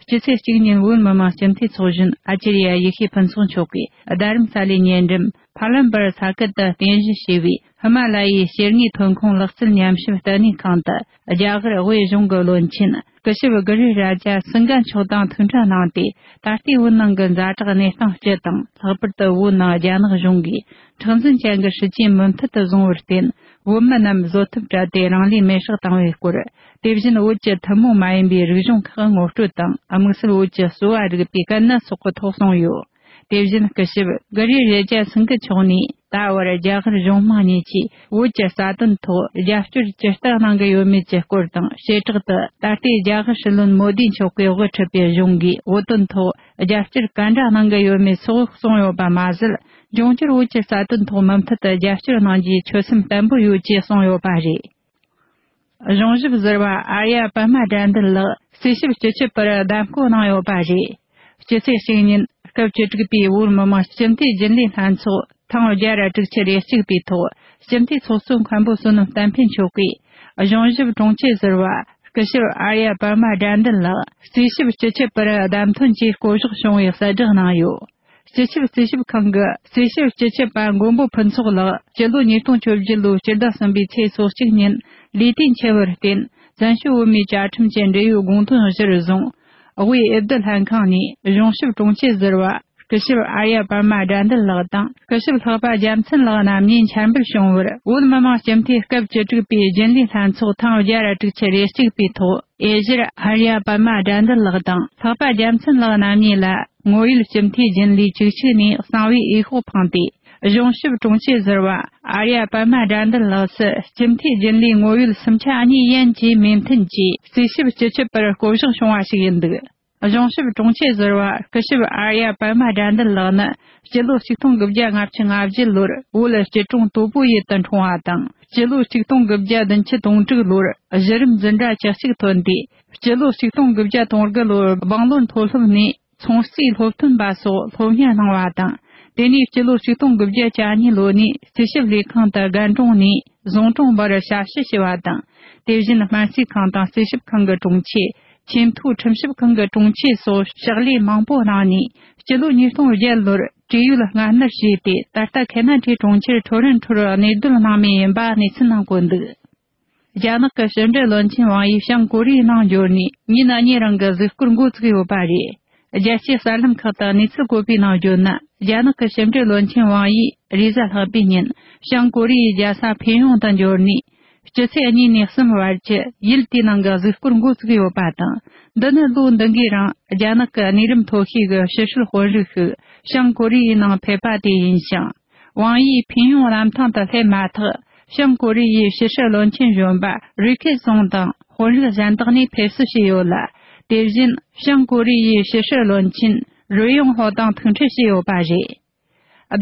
སྤྱི་ཚེས་གཅིག་ཉིན་བོད་མི་མང་སྤྱི་འཐུས་ཚོགས་གཞོན་ཨ་ཅེ་རི་ཡ་ཡེ་ཤེས་ཕུན་ཚོགས་མཆོག་གིས་རྡ་རམ་ས་ལའི་ཉེ་འགྲམ་བྷར་ལམ་པར་ས་ཁུལ་དུ་རྟེན་གཞི་བྱས་པའི་ཧི་མ་ལ་ཡའི་སྐྱེ་དངོས་ཐོན་ཁུངས་ལག་རྩལ་ཉམས་ཞིབ་ལྟེ་གནས་ཁང་དུ་རྒྱ་གར་དབུས་གཞུང་གི་བློན་ཆེན་སྐུ་ཞབས་གྷི་རི་རཱ་ཇཱ་སིང་གྷ་མཆོག་དང་ཐུག་འཕྲད་གནང་སྟེ་ད་ལྟའི་བོད་ནང་གི་མཛའ་གྲགས་གནས་སྟངས་སྤྱི་དང་ལྷག་པར་དུ་བོད་ནང་རྒྱ་ནག་གཞུང་གིས་མཁྲེགས་འཛིན་ཅན་གྱི་སྲིད་ཇུས་མུ་མཐུད་དུ་བཟུང་བར་བརྟེན་བོད་མི་རྣམས་བཟོད་ཐུབ་བྲལ་ཏེ་རང་ལུས་མེར་བསྲེགས་བཏང་བའི་སྐོར་དེ་བཞིན་བོད་ཀྱི་ཐུན་མོང་མ་ཡིན་པའི་རིག་གཞུང་ཁག་ངོ་སྤྲོད་དང་དམིགས་བསལ་བོད་ཀྱི་གསོ་བ་རིག་པའི་དཀའ་གནད་སོགས་གོ་ཐོག་གསུངས་ཡོད། དེ་བཞིན་སྐུ་ཞབས་ཀི་རི་རེ་ཇཱ་སིང་གི་མཆོག་ནས་ད་བར་རྒྱ་གར་གཞུང་དམངས་གཉིས་ཀྱིས་བོད་ཀྱི་རྩ་དོན་ཐོག་རྒྱབ་སྐྱོར་ཇི་ལྟར་གནང་གི་ཡོད་མེད་ཀྱི་སྐོར་དང་བྱེ་བྲག་ཏུ་ད་ལྟའི་རྒྱ་གར་སྲིད་བློན་མོ་དིའི་མཆོག་གིས་དབུ་ཁྲིད་པའི་གཞུང་གིས་བོད་དོན་ཐོག་རྒྱབ་སྐྱོར་ག་འདྲ་གནང་གི་ཡོད་མེད་སོགས་གསུངས་ཡོད་པ་མ་ཟད་འབྱུང་འགྱུར་བོད་ཀྱི་རྩ་དོན་ཐོག་མུ་མཐུད་དུ་རྒྱབ་སྐྱོར་གནང་རྒྱུའི་ཆོད་སེམས་བརྟན་པོ་ཡོད་ཅེས་གསུངས་ཡོད་པ་རེད། གཞུང་ཞབས་ཟེར་བ་ཨ་ཡ་པད་མ་དགྲ་འདུལ་ལགས་རྩིས་ཞིབ་སྤྱི་ཁྱབ་པར་བདམས་བསྐོ་གནང་ཡོད་པ་རེད། སྤྱི་ཚེས་གཅིག་ཉིན་སྐབས་བཅུ་དྲུག་པའི་བོད་མི་མང་སྤྱི་འཐུས་རྒྱུན་ལས་ལྷན་ཚོགས་ཐེངས་བརྒྱ་ར་དྲུག་ཅུ་རེ་གཅིག་པའི་ཐོག་སྤྱི་འཐུས་ཚོགས་གཙོ་མཁན་པོ་བསོད་ནམས་བསྟན་འཕེལ་མཆོག་གིས་གཞུང་ཞབས་དྲུང་ཆེ་ཟེར་བ་སྐུ་ཞབས་ཨ་ཡ་པད་མ་དགྲ་འདུལ་ལགས་རྩིས་ཞིབ་སྤྱི་ཁྱབ་པར་བདམས་ཐོན་སྐྱེད་བསྐོ་གཞག་བྱུང་བའི་གསལ་བསྒྲགས་གནང་ཡོད། སྤྱི་ཁྱབ་རྩིས་ཞིབ་ཁང་གི་རྩིས་ཞིབ་སྤྱི་ཁྱབ་པ་མགོན་པོ་ཕུན་ཚོགས་ལགས་སྤྱི་ལོ་ཉིས་སྟོང་བཅུ་བཞི་ལོའི་སྤྱི་ཟླ་གསུམ་པའི་ཚེས་སོ་གཅིག་ཉིན་ལས་དུས་འཁྱལ་བར་བརྟེན་བཙན་བྱོལ་བོད་མིའི་བཅའ་ཁྲིམས་ཀྱི་འབྲེལ་ཡོད་དགོངས་དོན་གཞིར་བཟུང་དབུས་ཨེ་བསྡུ་ལྷན་ཁང་ནས་གཞུང་ཞབས་དྲུང་ཆེ་ཟུར་བ་སྐུ་ཞབས་ཨར་ཡ་པད་མ་དགྲ་འདུལ་ལགས་དང་སྐུ་ཞབས་ལྷག་པ་རྒྱལ་མཚན་ལགས་རྣམ་གཉིས་འཆར་འབུལ་བྱུང་བར་བོད་མི་མང་སྤྱི་འཐུས་སྐབས་བཅུ་དྲུག་པའི་རྒྱུན་ལས་ལྷན་ཚོགས་ཐེངས་བརྒྱད་ར་དྲུག་ཆུ་རེ་གཅིག་པའི་ཐོག། དབྱི་ཟེར་ཨ་རི་ཡ་པདྨ་དགྲ་འདུལ་ལགས་དང་འཕགས་པ་རྒྱལ་མཚན་ལགས་རྣམ་གཉིས་ལ་དངོས་ཡོད་སྤྱི་འཐུས་རྒྱུན་ལས་བཅུ་གཅིག་ནས་གསང་བའི་འོས་ཤོག་འཕངས་ཏེ་གཞུང་ཞབས་དྲུང་ཆེ་ཟེར་བ་ཨ་རི་ཡ་པདྨ་དགྲ་འདུལ་ལགས་སུ་སྤྱི་འཐུས་རྒྱུན་ལས་དངོས་ཡོད་སུམ་ཆ་གཉིས་ཡན་གྱི་མོས་མཐུན་གྱིས་རྩིས་ཞིབ་བགྱི་ཆོད་པར་བསྐོ་གཞག་བྱུང་བ་ཞིག་ཡིན་འདུག། གཞུང་ཞབས་དྲུང་ཆེ་ཟུར་བ་སྐུ་ཞབས་ཨར་ཡ་པད་མ་དགྲ་འདུལ་ལགས་ནི་སྤྱི་ལོ་ཆིག་སྟོང་གི་བརྒྱ་ལྔ་བཅུ་ང་བཞི་ལོར་བོད་སྐྱིད་གྲོང་དོ་པོ་ཡུལ་དུ་འཁྲུངས་བ་དང་སྤྱི་ལོ་ཆིག་སྟོང་གི་བརྒྱ་བདུན་ཅུ་དོང་དྲུག་ལོར་གཞི་རིམ་འཛིན་གྲྭ་བཅུ་གཅིག་ཐོན་ཏེ་སྤྱི་ལོ་ཆིག་སྟོང་གི་བརྒྱ་སྟོང་དགུ་ལོར་སྦང་ལོར་མཐོ་སློབ་ནས་ཚོང་རྩིས་སློབ་ཐོན་པ་སོགས་སློབ་གཉེར་གནང་བ་དང་དེ་ནས་སྤྱི་ལོ་ཆིག་སྟོང་གི་བརྒྱ་གྱ་གཉིས་ལོ་ནས་རྩིས་ཞིབ་ལས་ཁང་དུ་རྒན་གྲོང་ནས་བཟུང་གྲོང་བར་ཞབས་ཞུ་བྱས་པ་དང་དེ་བཞིན་སྨན་རྩིས་ཁང་དང་རྩིས་ཞིབ་ཁང་གི་དྲུང་ཆེ་ཆེས་མཐོའི་ཁྲིམས་ཞིབ་ཁང་གི་དྲུང་ཆེ་སོགས་ཕྱག་ལས་མང་པོ་གནང་ནས་སྤྱི་ལོ་ཉིས་སྟོང་བརྒྱད་ལོར་བཀྲིས་ཡུལ་ལ་མངའ་སྣར་བྱས་ཏེ་ད་ལྟ་གྷལ་ནཱ་ཁྲའི་གྲོང་ཁྱེར་ཁྲོ་རན་ཁྲོར་གནས་སྡོད་སྣང་མེད་ཡིན་པ་གནས་ཚུལ་ནང་བཀོད་འདུག་རྒྱ་ནག་གི་ཕྱི་འབྲེལ་བློན་ཆེན་ཝང་ཡིས་བྱང་ཀོ་རིའི་ནང་འབྱོར་ནས་ཉིན་གཉིས་རིང་གི་གཟིགས་སྐོར་འགོ་བཙུགས་ཡོད་པ་རེད་རྒྱལ་སྤྱིའི་གསར་ལམ་ཁག་དང་གནས་ཚུལ་བཀོད་པའི་ནང་བརྗོད་ན་རྒྱ་ནག་གི་ཞིབ་འབྲི་བློན་ཆེན་ཝང་ཡིས་རེས་གཟའ་ལྷག་པའི་ཉིན་བྱང་ཀོ་རི་ཡའི་རྒྱལ་ས་ཕེ་ཡོང་དུ་འབྱོར་ནས་སྤྱི་ཚེས་གཉིས་ནས་གསུམ་བར་གྱི་ཡུལ་དེའི་ནང་གི་གཟིགས་སྐོར་མགོ་བཙུགས་ཡོད་པ་དང་འདི་ནི་ལོ་འདི་འགའི་རིང་རྒྱ་ནག་གི་གནས་རིམ་མཐོ་ཤོས་ཀྱི་ཕྱི་བཤོལ་དཔོན་རིགས་ཤིག་བྱང་ཀོ་རི་ཡའི་ནང་ཕེབས་པ་དེ་ཡིན་ཞིང། ཝང་དབྱིས་ཕིང་ཡོང་རམ་ཐང་དུ་སླེབས་མ་ཐག་བྱང་ཀོ་རི་ཡའི་ཕྱི་སྲིད་བློན་ཆེན་གཞོན་པ་རི་ཁེ་སུང་དང་དཔོན་རིགས་གཞན་དག་ནས་ཕེབས་བསུ་བྱས་ཡོད་ལ། དེ་བཞིན་བྱང་ཀོ་རི་ཡའི་ཕྱི་སྲིད་བློན་ཆེན་རུ་ཡོང་ཧོ་དང་ཐུག་འཕྲད་བྱས་ཡོད་པ་རེད།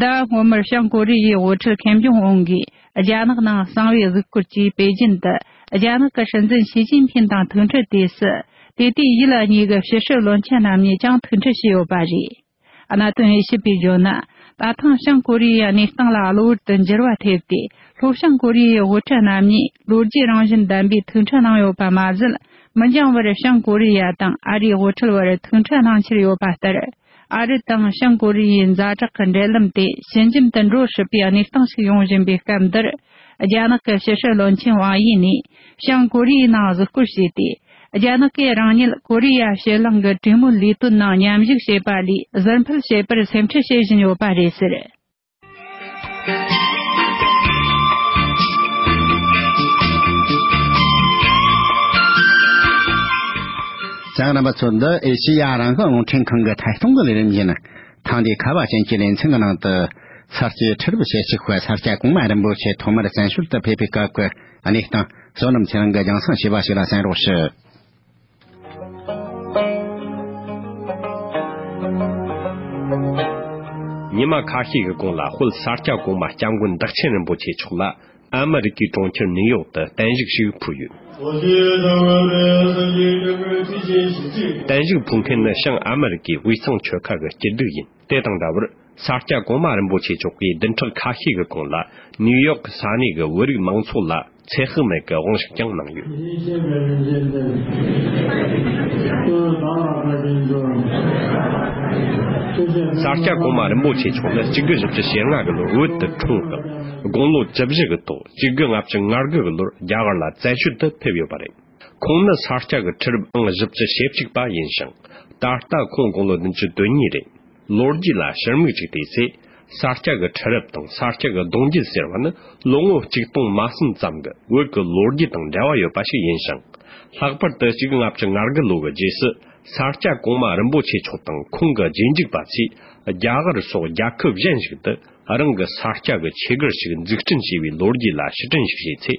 ཟླ་བ་སྔོན་མར་བྱང་ཀོ་རི་ཡའི་དབུ་ཁྲིད་ཁེམ་ཇུང་ཨུན་གྱིས་རྒྱ་ནག་ནང་གསང་བའི་གཟིགས་སྐོར་གྱིས་པེ་ཅིན་དུ་རྒྱ་ནག་གི་སྲིད་འཛིན་ཞི་ཅིན་ཕིན་དང་ཐུག་འཕྲད་དུས་སུ། དེ་དུས་དབྱི་ལ་གཉིས་ཀྱི་ཕྱི་སྲིད་བློན་ཆེན་རྣམས་ནས་ཀྱང་ཐུག་འཕྲད་བྱས་ཡོད་པ་རེད། གནད་དོན་དབྱེ་ཞིབ་པས་བརྗོད་ན། ད་ཐེངས་བྱང་ཀོ་རི་ཡའི་གནས་སྟངས་ལ་གློ་བུར་དུ་འགྱུར་བ་ཐེབས་ཏེ་ལྷོ་བྱང་ཀོ་རི་ཡའི་དབུ་ཁྲིད་རྣམ་གཉིས་ལོ་རྒྱུས་རང་བཞིན་ལྡན་པའི་ཐུག་འཕྲད་གནང་ཡོད་པ་མ་ཟད་མི་འགྱངས་བར་བྱང་ཀོ་རི་ཡ་དང་ཨ་རིའི་དབུ་ཁྲིད་བར་ཐུག་འཕྲད་གནང་འཁྱེར་ཡོད་པ་ལྟར་ཨ་རི་དང་བྱང་ཀོ་རི་ཡའི་མཛའ་གྲོགས་ཀྱི་འབྲེལ་ལམ་དེ་ཇེ་འཇམ་དུ་འགྲོ་སྲིད་པའི་གནས་སྟངས་ཤིག་ཡོང་བཞིན་པའི་སྐབས་འདིར་རྒྱ་ནག་གི་ཕྱི་སྲིད་བློན་ཆེན་ཝང་དབྱི་ནས་བྱང་ཀོ་རི་ཡའི་ནང་གཟིགས་སྐོར་བྱས་ཏེ། རྒྱ་ནག་གིས་རང་ཉིད་ཀོ་རི་ཡ་ཕྱེད་གླིང་གི་གྲོས་མོལ་ལས་དོན་ནང་མཉམ་ཞུགས་བྱེད་པ་ལས་ཟུར་འཕུད་བྱེད་པར་སེམས་ཁྲལ་བྱེད་བཞིན་ཡོད་པ་རེད་ཟེར། ལྕགས་རམ་པ་ཚོ་འདི་ཨེ་ཤེ་ཡ་རང་བྱུང་རླུང་འཕྲིན་ཁང་གི་ཐད་གཏོང་གི་ལས་རིམ་ཡིན། ཐེངས་འདིའི་ཁ་བ་ཅན་གྱི་ལེ་ཚན་གྱི་ནང་དུ། གསར་སྐྱེས་ཁྲི་རབས་ཞེ་གཅིག་པ་ས་སྐྱ་གོང་མ་རིན་པོ་ཆེ་ཐོག་མར་བཙན་བྱོལ་དུ་ཕེབས་པའི་སྐབས་ཀྱི། གནས་སྟངས། བསོད་ནམས་ཚེ་རིང་གི་རྒྱང་སྲང་བྱས་པ་ཞིག་ལ་གསན་རོགས་ཞུ། ཉི་མ་ཁ་ཤས་ཀྱི་གོང་ལ་དཔལ་ས་སྐྱ་གོང་མ་སྐྱབས་མགོན་བདག་ཆེན་རིན་པོ་ཆེ་མཆོག་ལ་ཨ་མི་རི་ཀའི་གྲོང་ཁྱེར་ནིའུ་ཡོག་ཏུ་བརྟན་བཞུགས་ཤིག་ཕུལ་ཡོད། བརྟན་བཞུགས་ཕུལ་མཁན་ནི་ཤང་ཨ་མི་རི་ཀའི་དབུས་གཙང་ཆོལ་ཁ་གི་སྐྱིད་སྡུག་ཡིན། དེ་དང་འདྲ་བར་ས་སྐྱ་གོང་མ་རིན་པོ་ཆེ་མཆོག་གིས་བདུན་ཕྲག་ཁ་ཤས་ཀྱི་གོང་ལ་ནིའུ་ཡོག་གི་ས་གནས་ཀྱི་བོད་རིགས་མང་ཚོགས་ལ་ཚེ་དཔག་མེད་ཀྱི་དབང་ཤུགས་ཀྱང་གནང་ཡོད། ཡེ་ཤེས་པའི་རིན་ཆེན་གཏེར། སྟོན་ཟླ་ལ་བཀའ་དྲིན་སྩོལ། སྐུ་ཞབས་ས་སྐྱ་གོང་མ་རིན་པོ་ཆེ་མཆོག་ནི་གཅིག་དགུ་བཞི་བཅུ་ཞེ་ལྔ་གི་ལོར་བོད་དུ་འཁྲུངས་ཤིང། དགུང་ལོ་བཅུ་བཞི་གི་ཐོག་གཅིག་དགུ་ལྔ་བཅུ་ང་དགུ་གི་ལོར་རྒྱ་གར་ལ་བཙན་བྱོལ་དུ་ཕེབས་ཡོད་པ་རེད། ཁོང་ནི་ས་སྐྱ་གི་ཁྲི་རབས་ཨང་བཞི་བཅུ་ཞེ་གཅིག་པ་ཡིན་ཞིང། ད་ལྟ་ཁོང་དགུང་ལོ་བདུན་ཅུ་དོན་གཉིས་རེད། ལོ་རྒྱུས་ལ་ཕྱིར་མིག་ཅིག་བལྟས་ཚེ། ས་སྐྱ་གི་ཁྲི་རབས་དང་ས་སྐྱ་གི་གདུང་རྒྱུད་ཟེར་བ་ནི་ལོ་ངོ་གཅིག་སྟོང་མ་གསུམ་ཙམ་གི་དབུས་ཀྱི་ལོ་རྒྱུས་དང་འབྲེལ་བ་ཡོད་པ་ཞིག་ཡིན་ཞིང། ལྷག་པར་དུ་གཅིག་ལྔ་བཅུ་ང་དགུ་ལོ་གི་རྗེས་སུ་ས་སྐྱ་གོང་མ་རིན་པོ་ཆེ་མཆོག་དང་ཁོང་གི་རྗེས་འཇུག་པ་ཚོས་རྒྱ་གར་སོགས་རྒྱལ་ཁབ་གཞན་ཞིག་ཏུ་རང་གི་ས་སྐྱ་གི་ཆོས་སྒར་ཞིག་འཛུགས་སྐྲུན་བྱས་པའི་ལོ་རྒྱུས་ལ་ཕྱིར་དྲན་ཞིག་བྱས་ཚེ།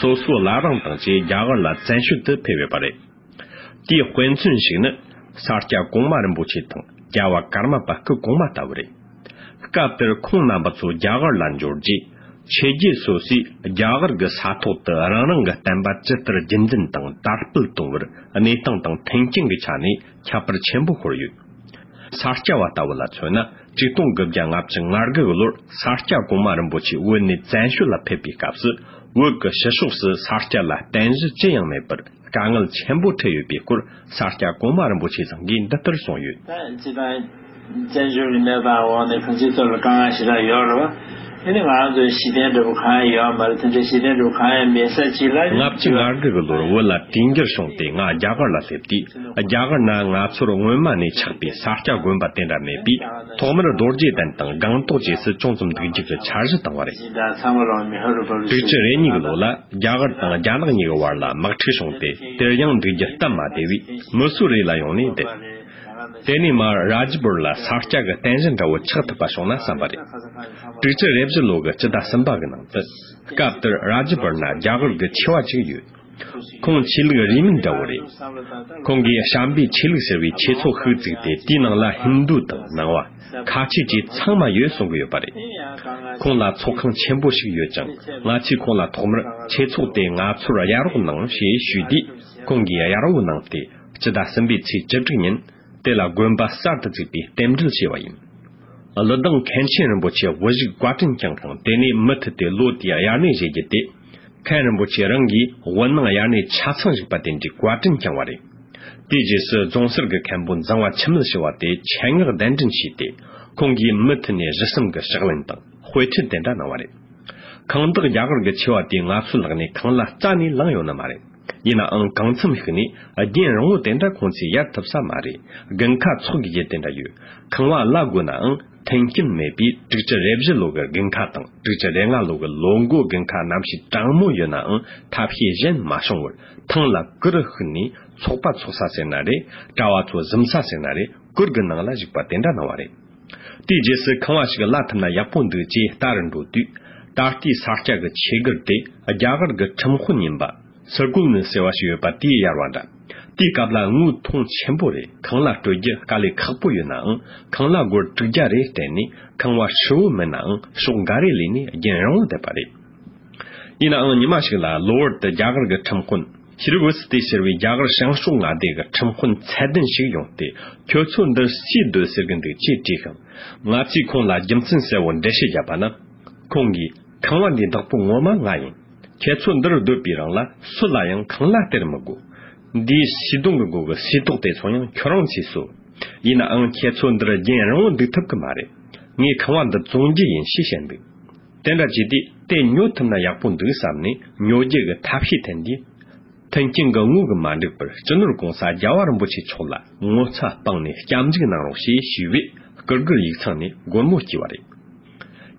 སོ་སོ་ལ་རང་དང་བཅས་རྒྱ་གར་ལ་བཙན་ཤོད་དུ་ཕེབས་ཡོད་པ་རེད། དེའི་དཔེ་མཚོན་ཞིག་ནི་ས་སྐྱ་གོང་མ་རིན་པོ་ཆེ་དང་རྒྱལ་བ་ཀརྨ་པ་སྐུ་གོང་མ་ལྟ་བུ་རེད། སྐབས་དེར་ཁོང་རྣམ་པ་ཚོ་རྒྱ་གར་ལ་འབྱོར་རྗེས་ཕྱི་རྒྱལ་སོ་སོས་རྒྱ་གར་གྱི་ས་ཐོག་ཏུ་རང་རང་གི་བསྟན་པ་ཇི་ལྟར་རྒྱུན་འཛིན་དང་དར་སྤེལ་གཏོང་བར་གནས་སྟངས་དང་མཐུན་རྐྱེན་གྱི་ཆ་ནས་ཁྱད་པར་ཆེན་པོ་ཤོར་ཡོད། ས་སྐྱ་བ་ལྟ་བུ་ལ་མཚོན་ན། གཅིག་སྟོང་དགུ་བརྒྱ་ལྔ་བཅུ་ང་དགུའི་ལོར་ས་སྐྱ་གོང་མ་རིན་པོ་ཆེ་དབུས་ནས་བཙན་བྱོལ་ལ་ཕེབས་པའི་སྐབས་སུ་དབུས་ཀྱི་ཕྱི་ཕྱོགས་སུ་ས་སྐྱ་ལ་རྟེན་གཞི་ཅི་ཡང་མེད་པར་དཀའ་ངལ་ཆེན་པོ་འཕྲད་ཡོད་པའི་སྐོར་ས་སྐྱ་གོང་མ་རིན་པོ་ཆེ་ཚང་གིས་འདི་ལྟར་གསུངས་ཡོད། བཙན་བྱོལ་གྱི་གནས་སྟངས་འོག་ནས་ཕུན་ཚོགས་གཙོས་ལ་དཀའ་ངལ་ཞེ་དྲག་ཡོད་རེད་བ། དེ་ནི་ང་རང་ཚོའི་གཞི་རྟེན་འབྲས་བུ་གང་ཡང་ཡོད་ཨ་མ་རེད་དེ་འདྲའི་གཞི་རྟེན་འབྲས་བུ་གང་ཡང་མེད་ས་ཅི་ལ་ཉེ། ལྔ་བཅུ་ང་དགུ་གི་ལོར་བོད་ལ་གྲིན་འགྱུར་བྱུང་སྟེ་ང་རྒྱ་གར་ལ་སླེབས་དུས་རྒྱ་གར་ན་ང་ཚོར་སྔོན་མ་ནས་ཆགས་པའི་ས་སྐྱ་དགོན་པ་དེ་འདྲ་མེད་པས་ཐོག་མར་རྡོ་རྗེ་གདན་དང་སྒང་ཏོག་བཅས་སུ་ཅུང་ཙམ་འདུག་རྒྱུགས་ཀྱི་འཆར་གཞི་བཏང་བ་རེད། ཞིང་བྲག་ཚང་མ་ལོང་མི་ཧ་རུ་བབས་རུ་དྲུག་ཅུ་རེ་གཉིས་ཀྱི་ལོ་ལ་རྒྱ་གར་དང་རྒྱ་ནག་གཉིས་ཀྱི་བར་ལ་དམག་འཁྲུག་བྱུང་སྟེ་དེར་ཡང་འདུག་རྒྱུ་སྟབས་མ་བདེ་བས་མི་སུ་རེད་ལ་ཡོང་ནས་བསྡད། དེ་ནས་མ་རཱ་ཇི་པུར་ལ་ས་སྐྱ་གི་རྟེན་གཞི་འདྲ་བོ་ཆགས་ཐུབ་པ་བྱུང་ན་བསམ་པ་རེད། དྲུག་ཅུ་རེ་བཞི་ལོ་གི་སྤྱི་ཟླ་གསུམ་པ་གི་ནང་དུ། སྐབས་དེར་རཱ་ཇི་པུར་ན་རྒྱ་གར་གྱི་ཆོས་བ་ཅིག་ཡོད། ཁོང་ཆོས་ལུགས་རིས་མེད་འདྲ་བོ་རེད། ཁོང་གིས་བྱམས་པའི་ཆོས་ལུགས་ཟེར་བའི་ཆོས་ཚོགས་ཤིག་བཙུགས་ཏེ་དེའི་ནང་ལ་ཧིན་དུ་དང་ནང་བ། ཁ་ཆེ་བཅས་ཚང་མ་ཡོད་གསུང་གི་ཡོད་པ་རེད། ཁོང་ལ་ཚོགས་ཁང་ཆེན་པོ་ཞིག་ཡོད་ཀྱང་ང་ཚོས་ཁོང་ལ་ཐོག་མར་ཆོས་ཚོགས་དེ་ང་ཚོར་གཡར་རོགས་གནང་ཞེས་ཞུས་དུས་ཁོང་གིས་གཡར་འོས་གནང་སྟེ། སྤྱི་ཟླ་གསུམ་པའི་ཚེས་བཅུ་དྲུག་ཉིན་དེ་ལ་དགོན་པ་གསར་དུ་བཙུགས་པའི་རྟེན་འབྲེལ་བྱས་པ་ཡིན། གླུ་གདངས་མཁན་ཆེན་རིན་པོ་ཆེ་དབུ་བཞུགས་བཀའ་དྲིན་བསྐྱངས་ཤིང་དེ་ནས་མུ་མཐུད་དེ་ལོ་དེའི་དབྱར་གནས་བཞེས་རྒྱུ་དེ། མཁན་རིན་པོ་ཆེ་རང་གིས་དབུ་ནང་དབྱར་གནས་ཆ་ཚང་བཞུགས་པ་དེ་འདྲའི་བཀའ་དྲིན་བསྐྱངས་བ་རེད། དེའི་རྗེས་སུ་རྫོང་སར་གྱི་མཁན་པོ་འཛིང་བ་འཆི་མེད་ཞུ་བ་དེ་ཆེད་མངགས་གདན་འདྲེན་བྱས་ཏེ་ཁོང་གིས་མུ་མཐུད་ནས་གཞི་གསུམ་གྱི་ཕྱག་ལེན་དང་དཔེ་ཁྲིད་དེ་འདྲ་གནང་བ་རེད། ཁང་བདག་རྒྱ་གར་གྱི་ཆེ་བ་དེ་ང་ཚོའི་ལག་ནས་གང་ལ་རྩ་ནས་བླངས་ཡོད་ནི་མ་རེད། ཡིན་ནའང་གང་འཚམས་ཤིག་ནས་རྒན་རང་བོ་དེ་འདྲ་ཁོང་ཚོས་ཡར་ཐུབ་ས་མ་རེད་དགུན་ཁ་ཚོགས་ཀྱི་རྗེས་དེ་འདྲ་ཡོད་ཁང་བ་གླ་དགོས་ནའང་མཐུན་རྐྱེན་མེད་པས་དྲུག་ཅུ་རེ་བཞི་ལོ་གི་དགུན་ཁ་དང་དྲུག་ཅུ་རེ་ལྔ་ལོ་གི་ལོ་མགོ་དགུན་ཁ་ནམ་ཞིག་གྲང་མོ་ཡོད་ནའང་ཐབས་ཤེས་གཞན་མ་བྱུང་བར་ཐང་ལ་ཀུ་རུ་ཧུད་ནས་ཚོགས་པ་ཚོགས་ས་ཟེར་ན་རེད་གྲྭ་བ་ཚོ་གཟིམ་ས་ཟེར་ན་རེད་གུར་གི་ནང་ལ་བཞུགས་པ་དེ་འདྲ་གནང་བ་རེད། དེའི་རྗེས་སུ་ཁང་བ་ཞིག་གླ་ཐུབ་ན་ཡག་པོ་འདུག་ཅེས་ལྟ་རུ་འགྲོ་དུས། ད་ལྟའི་ས་སྐྱ་གི་ཆེད་སྒར་དེ་རྒྱ་གར་གི་ཁྲིམས་དཔོན་ཡིན་པ། སི་ཀུལ་ནི་ཟེར་བ་ཞིག་ཡོད་པ་དེས་གཡར་བ་འདྲ། དེའི་སྐབས་ལ་དངུལ་ཐུང་ཆེན་པོ་རེ་ཁང་གླ་སྤྲོད་རྒྱུ་དཀའ་ལས་ཁག་པོ་ཡོད་ནའང་ཁང་གླ་སྒོར་དྲུག་བརྒྱ་རེ་སྤྲད་ནས་ཁང་བ་ཧྲིལ་བོ་མིན་ནའང་ཤོག་འགའ་རེ་ལས་ནས་རྒྱན་རིང་བོ་བསྡད་པ་རེད། ཡིན་ནའང་ཉི་མ་ཞིག་ལ་གློ་བུར་དུ་རྒྱ་གར་གི་ཁྲིམས་དཔོན། ཕྱི་རུ་འོད་ཟེར་དེ་ཤར་བས་རྒྱ་གར་ཞང་ཞུང་མངའ་སྡེ་གི་ཁྲིམས་དཔོན་ཚད་ལྡན་ཞིག་ཡོང་སྟེ་ཁྱོད་ཚོས་འདི་ཅི་སྡོད་ཟེར་གི་འདུག་ཅེས་དྲིས་ཤིང། ང་ཚོས་ཁོང་ལ་རྒྱུ་མཚན་གསལ་བོ་འགྲེལ་བཤད་བརྒྱབ་པ་ན། ཁོང་གིས། ཁང་བ་འདི་བདག་པོ་ངོ་མ་ང་ཡིན། ཁྱེད་ཚོ་འདིར་སྡོད་པའི་རིང་ལ་སུ་ལ་ཡང་ཁང་གླ་སྟེར་མི་དགོས། འདིའི་བྱིས་སྡོང་གི་སྒོ་གི་སའི་ཏོག་དེ་ཚོ་ཡང་ཁྱོད་རང་ཚོས་བཟོ། ཡིན་ནའང་ཁྱེད་ཚོ་འདིར་རྒྱན་རིང་བོ་འདུག་ཐུབ་གི་མ་རེད། ངས་ཁང་བ་འདི་བཙོང་རྒྱུ་ཡིན་ཞེས་བཤད་འདུག། དེ་འདྲ་བྱས་ཏེ་དེ་ཉོ་ཐུབ་ན་ཡག་པོ་འདུག་བསམ་ནས་ཉོ་རྒྱུ་གི་ཐབས་ཤེས་ཐོན་དུས། མཐུན་རྐྱེན་གང་ངུ་གི་མ་འགྲིག་པར་སྤྱི་ནོར ྋགོང་ས ྋརྒྱལ་བ་རིན་པོ་ཆེ་མཆོག་ལ་ངོ་ཚ་སྤངས་ནས་སྐྱབས་འཇུག་གནང་རོགས་ཞེས་ཞུས་པས ྋསྐུ་སྒེར་ཡིག་ཚང་ནས་སྒོར་མོ་བསྐྱི་བ་རེད།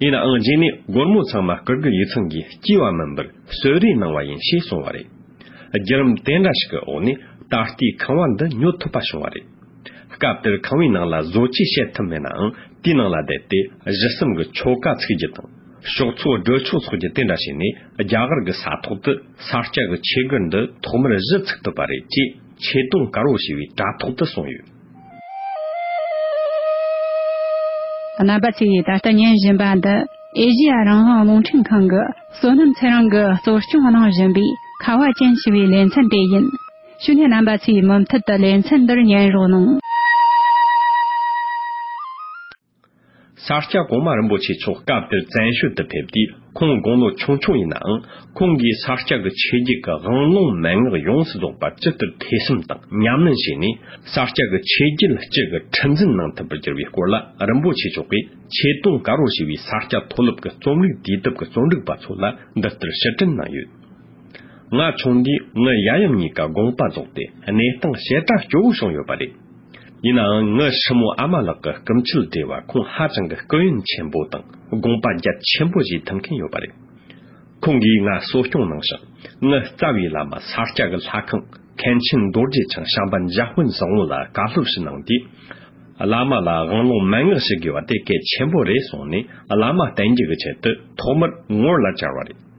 ཡིན་ནའང་རྗེས་ནས་སྒོར་མོ་ཚང་མ ྋསྐུ་སྒེར་ཡིག་ཚང་གིས་བསྐྱི་བ་མིན་པར་གསོལ་རས་གནང་བ་ཡིན་ཞེས་གསུངས་བ་རེད། བརྒྱུད་རིམ་དེ་འདྲ་ཞིག་གི་འོག་ནས་ད་ལྟའི་ཁང་བ་འདི་ཉོ་ཐུབ་པ་བྱུང་བ་རེད། སྐབས་དེར་ཁང་བའི་ནང་ལ་བཟོ་བཅོས་བྱེད་ཐུབ་མེད་ནའང་དེའི་ནང་ལ་བསྡད་དེ་གཞི་གསུམ་གྱི་ཆོ་ག་ཚུགས་རྒྱུ་དང། ཞོགས་ཚོགས་སྒྲོལ་ཆོག་སོགས་ཀྱི་དེ་འདྲ་བྱས་ནས་རྒྱ་གར་གྱི་ས་ཐོག་ཏུ་ས་སྐྱ་གི་ཆོས་སྒར་འདི་ཐོག་མར་གཞི་ཚུགས་ཐུབ་པ་རེད་ཅེས་ཆེ་མཐོང་དཀར་བོ་ཞེས་པའི་དྲ་ཐོག་ཏུ་གསུངས་ཡོད། རྣམ་པ་ཚོས་ད་ལྟ་ཉན་བཞིན་པ་འདི་ཨེ་ཞི་ཡ་རང་དབང་རླུང་འཕྲིན་ཁང་གིས་བསོད་ནམས་ཚེ་རིང་གིས་གཙོ་སྐྱོང་གནང་བཞིན་པའི་ཁ་བ་ཅན་ཞི་བའི་ལེ་ཚན་དེ་ཡིན། ཞུ་སྙན་རྣམ་པ་ཚོས་མུ་མཐུད་དུ་ལེ་ཚན་འདིར་ཉན་རོགས་གནང། ས་སྐྱ་གོང་མ་རིན་པོ་ཆེ་མཆོག་སྐབས་དེར་བཙན་བྱོལ་དུ་ཕེབས་དུས་ཁོང་དགུང་ལོ་ཆུང་ཆུང་ཡིན་ནའང་ཁོང་གིས་ས་སྐྱ་གི་ཆོས་བརྒྱུད་ཀྱི་དབང་ལུང་མན་ངག་ཡོངས་སུ་རྫོགས་པར་ཇི་ལྟར་ཐེ་ཚོམ་དང་ཉམས་ལེན་བྱས་ནས་ས་སྐྱ་གི་ཆོས་བརྒྱུད་ལ་སྤྱི་གི་ཁྲི་འཛིན་གནང་ཐུབ་པར་གྱུར་བའི་སྐོར་ལ་རིན་པོ་ཆེ་མཆོག་གིས་ཆེ་མཐོང་དཀར་བོར་ཞུ་བའི་ས་སྐྱ་མཐོ་སློབ་ཀྱི་རྩོམ་རིག་དུས་དེབ་ཀྱི་རྩོམ་སྒྲིག་པ་ཚོ་ལ་འདི་ལྟར་ཕྱིར་དྲན་གནང་ཡོད། ང་ཆུང་དུས་ངའི་ཡ་ཡུམ་གཉིས་ཀ་དགོངས་པ་རྫོགས་ཏེ་གནས་སྟངས་བཤད་གྲྭ་སྐྱོ་བོ་བྱུང་ཡོད་པ་རེད། ཡིན་ནའང་ངའི་ཧྲིལ་མོ་ཨ་མ་ལགས་ཀྱི་སྐུ་མཆེད་སྒྲོལ་བ་ཁོང་ཧ་ཅང་གི་སྐུ་ཡོན་ཆེན་པོ་དང་དགོངས་པ་རྒྱ་ཆེན་པོ་བཞེས་ཐུབ་མཁན་ཡོད་པ་རེད། ཁོང་གིས་ང་གསོ་སྐྱོང་གནང་ཞིང་ངའི་རྩ་བའི་བླ་མ་ས་སྐྱ་གི་ལྷ་ཁང་མཁན་ཆེན་རྡོ་རྗེ་འཆང་བྱམས་པ་འཇའ་དཔོན་བཟང་བོ་ལ་བཀའ་སློབ་ཞིག་གནང་དུས། བླ་མ་ལ་དབང་ལུང་མན་ངག་ཞུ་དགོས་པ་དེ་གལ་ཆེན་པོ་རེད་གསུངས་ནས་བླ་མ་བསྟེན་རྒྱུ་གི་ཆེད་དུ་ཐོག་མར་ངོར་ལ་བཅར་བ་རེད།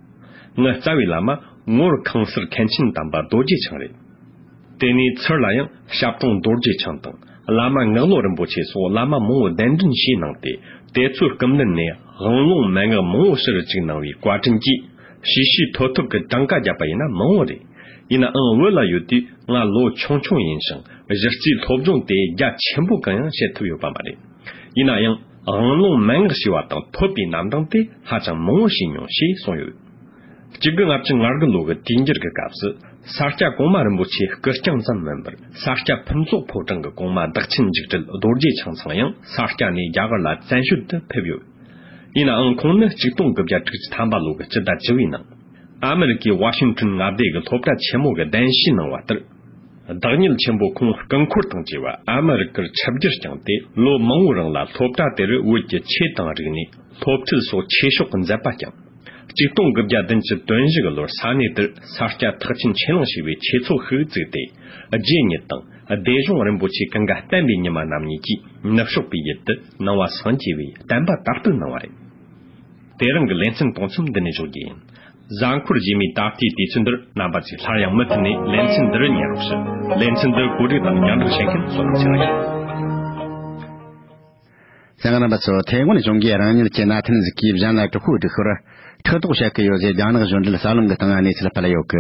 ང་རྩ་བའི་བླ་མ་ངོར་ཁང་སར་མཁན་ཆེན་དམ་པ་རྡོ་རྗེ་འཆང་རེད། དེ་ནས་ཚུར་ལ་ཡང་ཞབས་དྲུང་རྡོ་རྗེ་འཆང་དང་བླ་མ་ངག་བློ་རིན་པོ་ཆེ་སོགས་བླ་མ་མང་བོ་གདན་འདྲེན་བྱས་གནང་སྟེ་དེ་ཚོའི་སྐུ་མདུན་ནས་དབང་ཀློང་མན་ངག་མང་བོ་ཕྱིར་བཅུག་གནང་བའི་བཀའ་དྲིན་གྱིས་ཞི་ཞི་ཐོ་ཐོ་གི་གྲངས་ཀ་བརྒྱབ་པ་ཡིན་ན་མང་བོ་རེད། ཡིན་ནའང་བོད་ལ་ཡོད་དུས་ང་ལོ་ཆུང་ཆུང་ཡིན་ཞིང་གཞི་རྩའི་སློབ་སྦྱོང་དེ་རྒྱ་ཆེན་པོ་གང་ཡང་བྱེད་ཐུབ་ཡོད་པ་མ་རེད། ཡིན་ན་ཡང། དབང་ཀློང་མན་ངག་ཞི་བ་དང་ཐོད་པའི་རྣམ་གྲངས་དེ་ཧ་ཅང་མང་བོ་ཞིག་མྱོང་ཞེས་གསུངས་ཡོད། གཅིག་གི་སྔ་ཕྱི་སྔར་གྱི་ལོ་གི་དུས་འགྱུར་གྱི་སྐབས་སུ་ས་སྐྱ་གོང་མ་རིན་པོ་ཆེའི་སྐུ་རྐྱང་ཙམ་མིན་པར་ས་སྐྱ་ཕུན་ཚོགས་ཕོ་བྲང་གི་གོང་མ་བདག་ཆེན་འཇིགས་བྲལ་རྡོ་རྗེ་འཆང་ཚང་ཡང་ས་སྐྱ་ནས་རྒྱ་གར་ལ་བཙན་བྱོལ་དུ་ཕེབས་ཡོད། ཡིན་ནའང་ཁོང་ནི་གཅིག་སྟོང་གི་བརྒྱད་ཕྲུག་གི་ཐམ་པ་ལོ་གི་སྤྱི་ཟླ་བཅུ་བའི་ནང་ཨ་མི་རི་ཀའི་ཝ་ཤིང་ཏོན་མངའ་སྡེ་གི་སློབ་གྲྭ་ཆེན་མོ་གི་གདན་ཞུས་གནང་བ་ལྟར། བདག་ཉིད་ཆེན་པོ་ཁོང་རྐང་འཁོར་དང་བཅས་པ་ཨ་མི་རི་ཀར་ཆབ་སྒྱུར་བསྐྱངས་ཏེ་ལོ་མང་བོའི་རིང་ལ་སློབ་གྲྭ་དེར་བོད་ཀྱི་ཆོས་དང་རིག་གནས། སློབ་ཁྲིད་སོགས་ཆོས་ཕྱོགས་ཀྱི་མཛད་པ་བསྐྱངས། གཅིག་སྟོང་དགུ་བརྒྱ་བདུན་ཅུ་དོན་བཞི་གི་ལོར་ས་གནས་དེར་ས་སྐྱ་ཐག་ཆེན་ཆོས་གླིང་ཞེས་པའི་ཆོས་ཚོགས་ཤིག་བཙུགས་ཏེ། རྗེ་ཉིད་དང་བདེ་གཞུང་རིན་པོ་ཆེ་གངྒཱ་བསྟན་པའི་ཉི་མ་རྣམ་གཉིས་ཀྱིས་ནུབ་ཕྱོགས་པའི་ཡུལ་དུ་སྣང་བ་སངས་རྒྱས་པའི་བསྟན་པ་དར་སྤེལ་གནང་བ་རེད། དེ་རིང་གི་ལེ་ཚན་དང་མཚམས་འདི་ནས་གཞོག་རྒྱུ་ཡིན། གཟའ་འཁོར་རྗེས་མའི་ད་ལྟའི་དུས་ཚོད་འདིར་རྣམ་པ་ཚོས་སླར་ཡང་མུ་མཐུད་ནས་ལེ་ཚན་འདིར་ཉན་རོགས་ཞུ། ལེ་ཚན་འདི་གོ་སྒྲིག་དང་ཉར་འདྲི་བྱེད་མཁན་སོ་ནམ་ཆེ་ལགས་ཡིན། བཟང་རྣམ་པ་ཚོ་ཐའེ་ཝན་གཞུང་གིས་རང་ཉིད་ཀྱི་མནའ་ཐན་གཟིགས་སྐྱེས་གཞན་ལ་དྲག་ཤུགས་སྒྲིག་ཤོར། ཕྲག་དོག་བྱེད་ཀྱི་ཡོད་ཟེར་རྒྱ་ནག་གཞུང་འབྲེལ་གསར་ལམ་གྱི་སྟེང་གནས་ཚུལ་སྤེལ་ཡོད།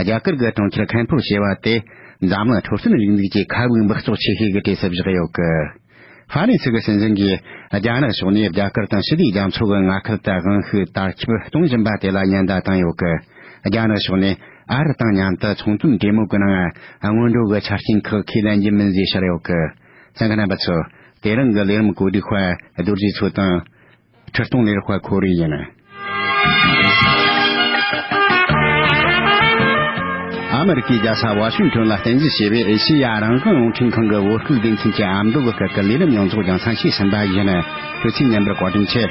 རྒྱ་གར་གྱི་གྲོང་ཁྱེར་ཁན་ཕུར་ཞེས་པ་དེ་འཛམ་གླིང་འཕྲོད་བསྟེན་རིག་འཛུགས་ཀྱི་ཁ་དབུགས་འབག་བཙོག་ཆེ་ཤོས་ཀྱི་གྲས་སུ་བཞག་ཡོད། ཧྭ་ནི་ཚིག་གི་སྲིད་འཛིན་གྱིས་རྒྱ་ནག་ཕྱོགས་ནས་རྒྱ་གར་དང་ཞི་བདེའི་རྒྱ་མཚོ་གི་མངའ་ཁུལ་དུ་དབང་ཤུགས་དར་ཁྱབ་གཏོང་བཞིན་པ་དེ་ལ་ཉེན་བརྡ་བཏང་ཡོད། རྒྱ་ནག་ཕྱོགས་ནས་ཨ་རི་དང་མཉམ་དུ་ཚོང་དོན་འབྲེལ་མོལ་གི་ནང་སྔོན་འགྲོ་གི་ཆ་རྐྱེན་ཁག་ཁས་ལེན་རྒྱུ་མིན་ཞེས་བཤད་ཡོད། ཚན་རིག་རྣམ་པ་ཚོས་དེ་རིང་གི་ལས་རིམ་གོ་སྒྲིག་བར་རྡོ་རྗེ་མཚོ་དང། ཁྲི་སྟོང་ལེར་དཔའ་ཁོ་རེ་ཡིན། ཨ་མི་རི་ཀའི་རྒྱལ་ས་ཝ་ཤིང་ཏོན་ལ་རྟེན་གཞི་བྱས་པའི་ཨེ་ཤེ་ཡ་རང་བྱུང་རླུང་འཕྲིན་ཁང་གི་འོད་སྐུལ་སྡེ་ཚན་གྱི་ཨ་མདོ་བོད་སྐད་ཀྱི་ལས་རིམ་ཡོངས་རྫོགས་ཀྱང་ཚང་ཤེས་ཟིན་པ་བཞིན་དུས་ཚིགས་མཉམ་པར་བཀའ་དྲིན་ཆེ།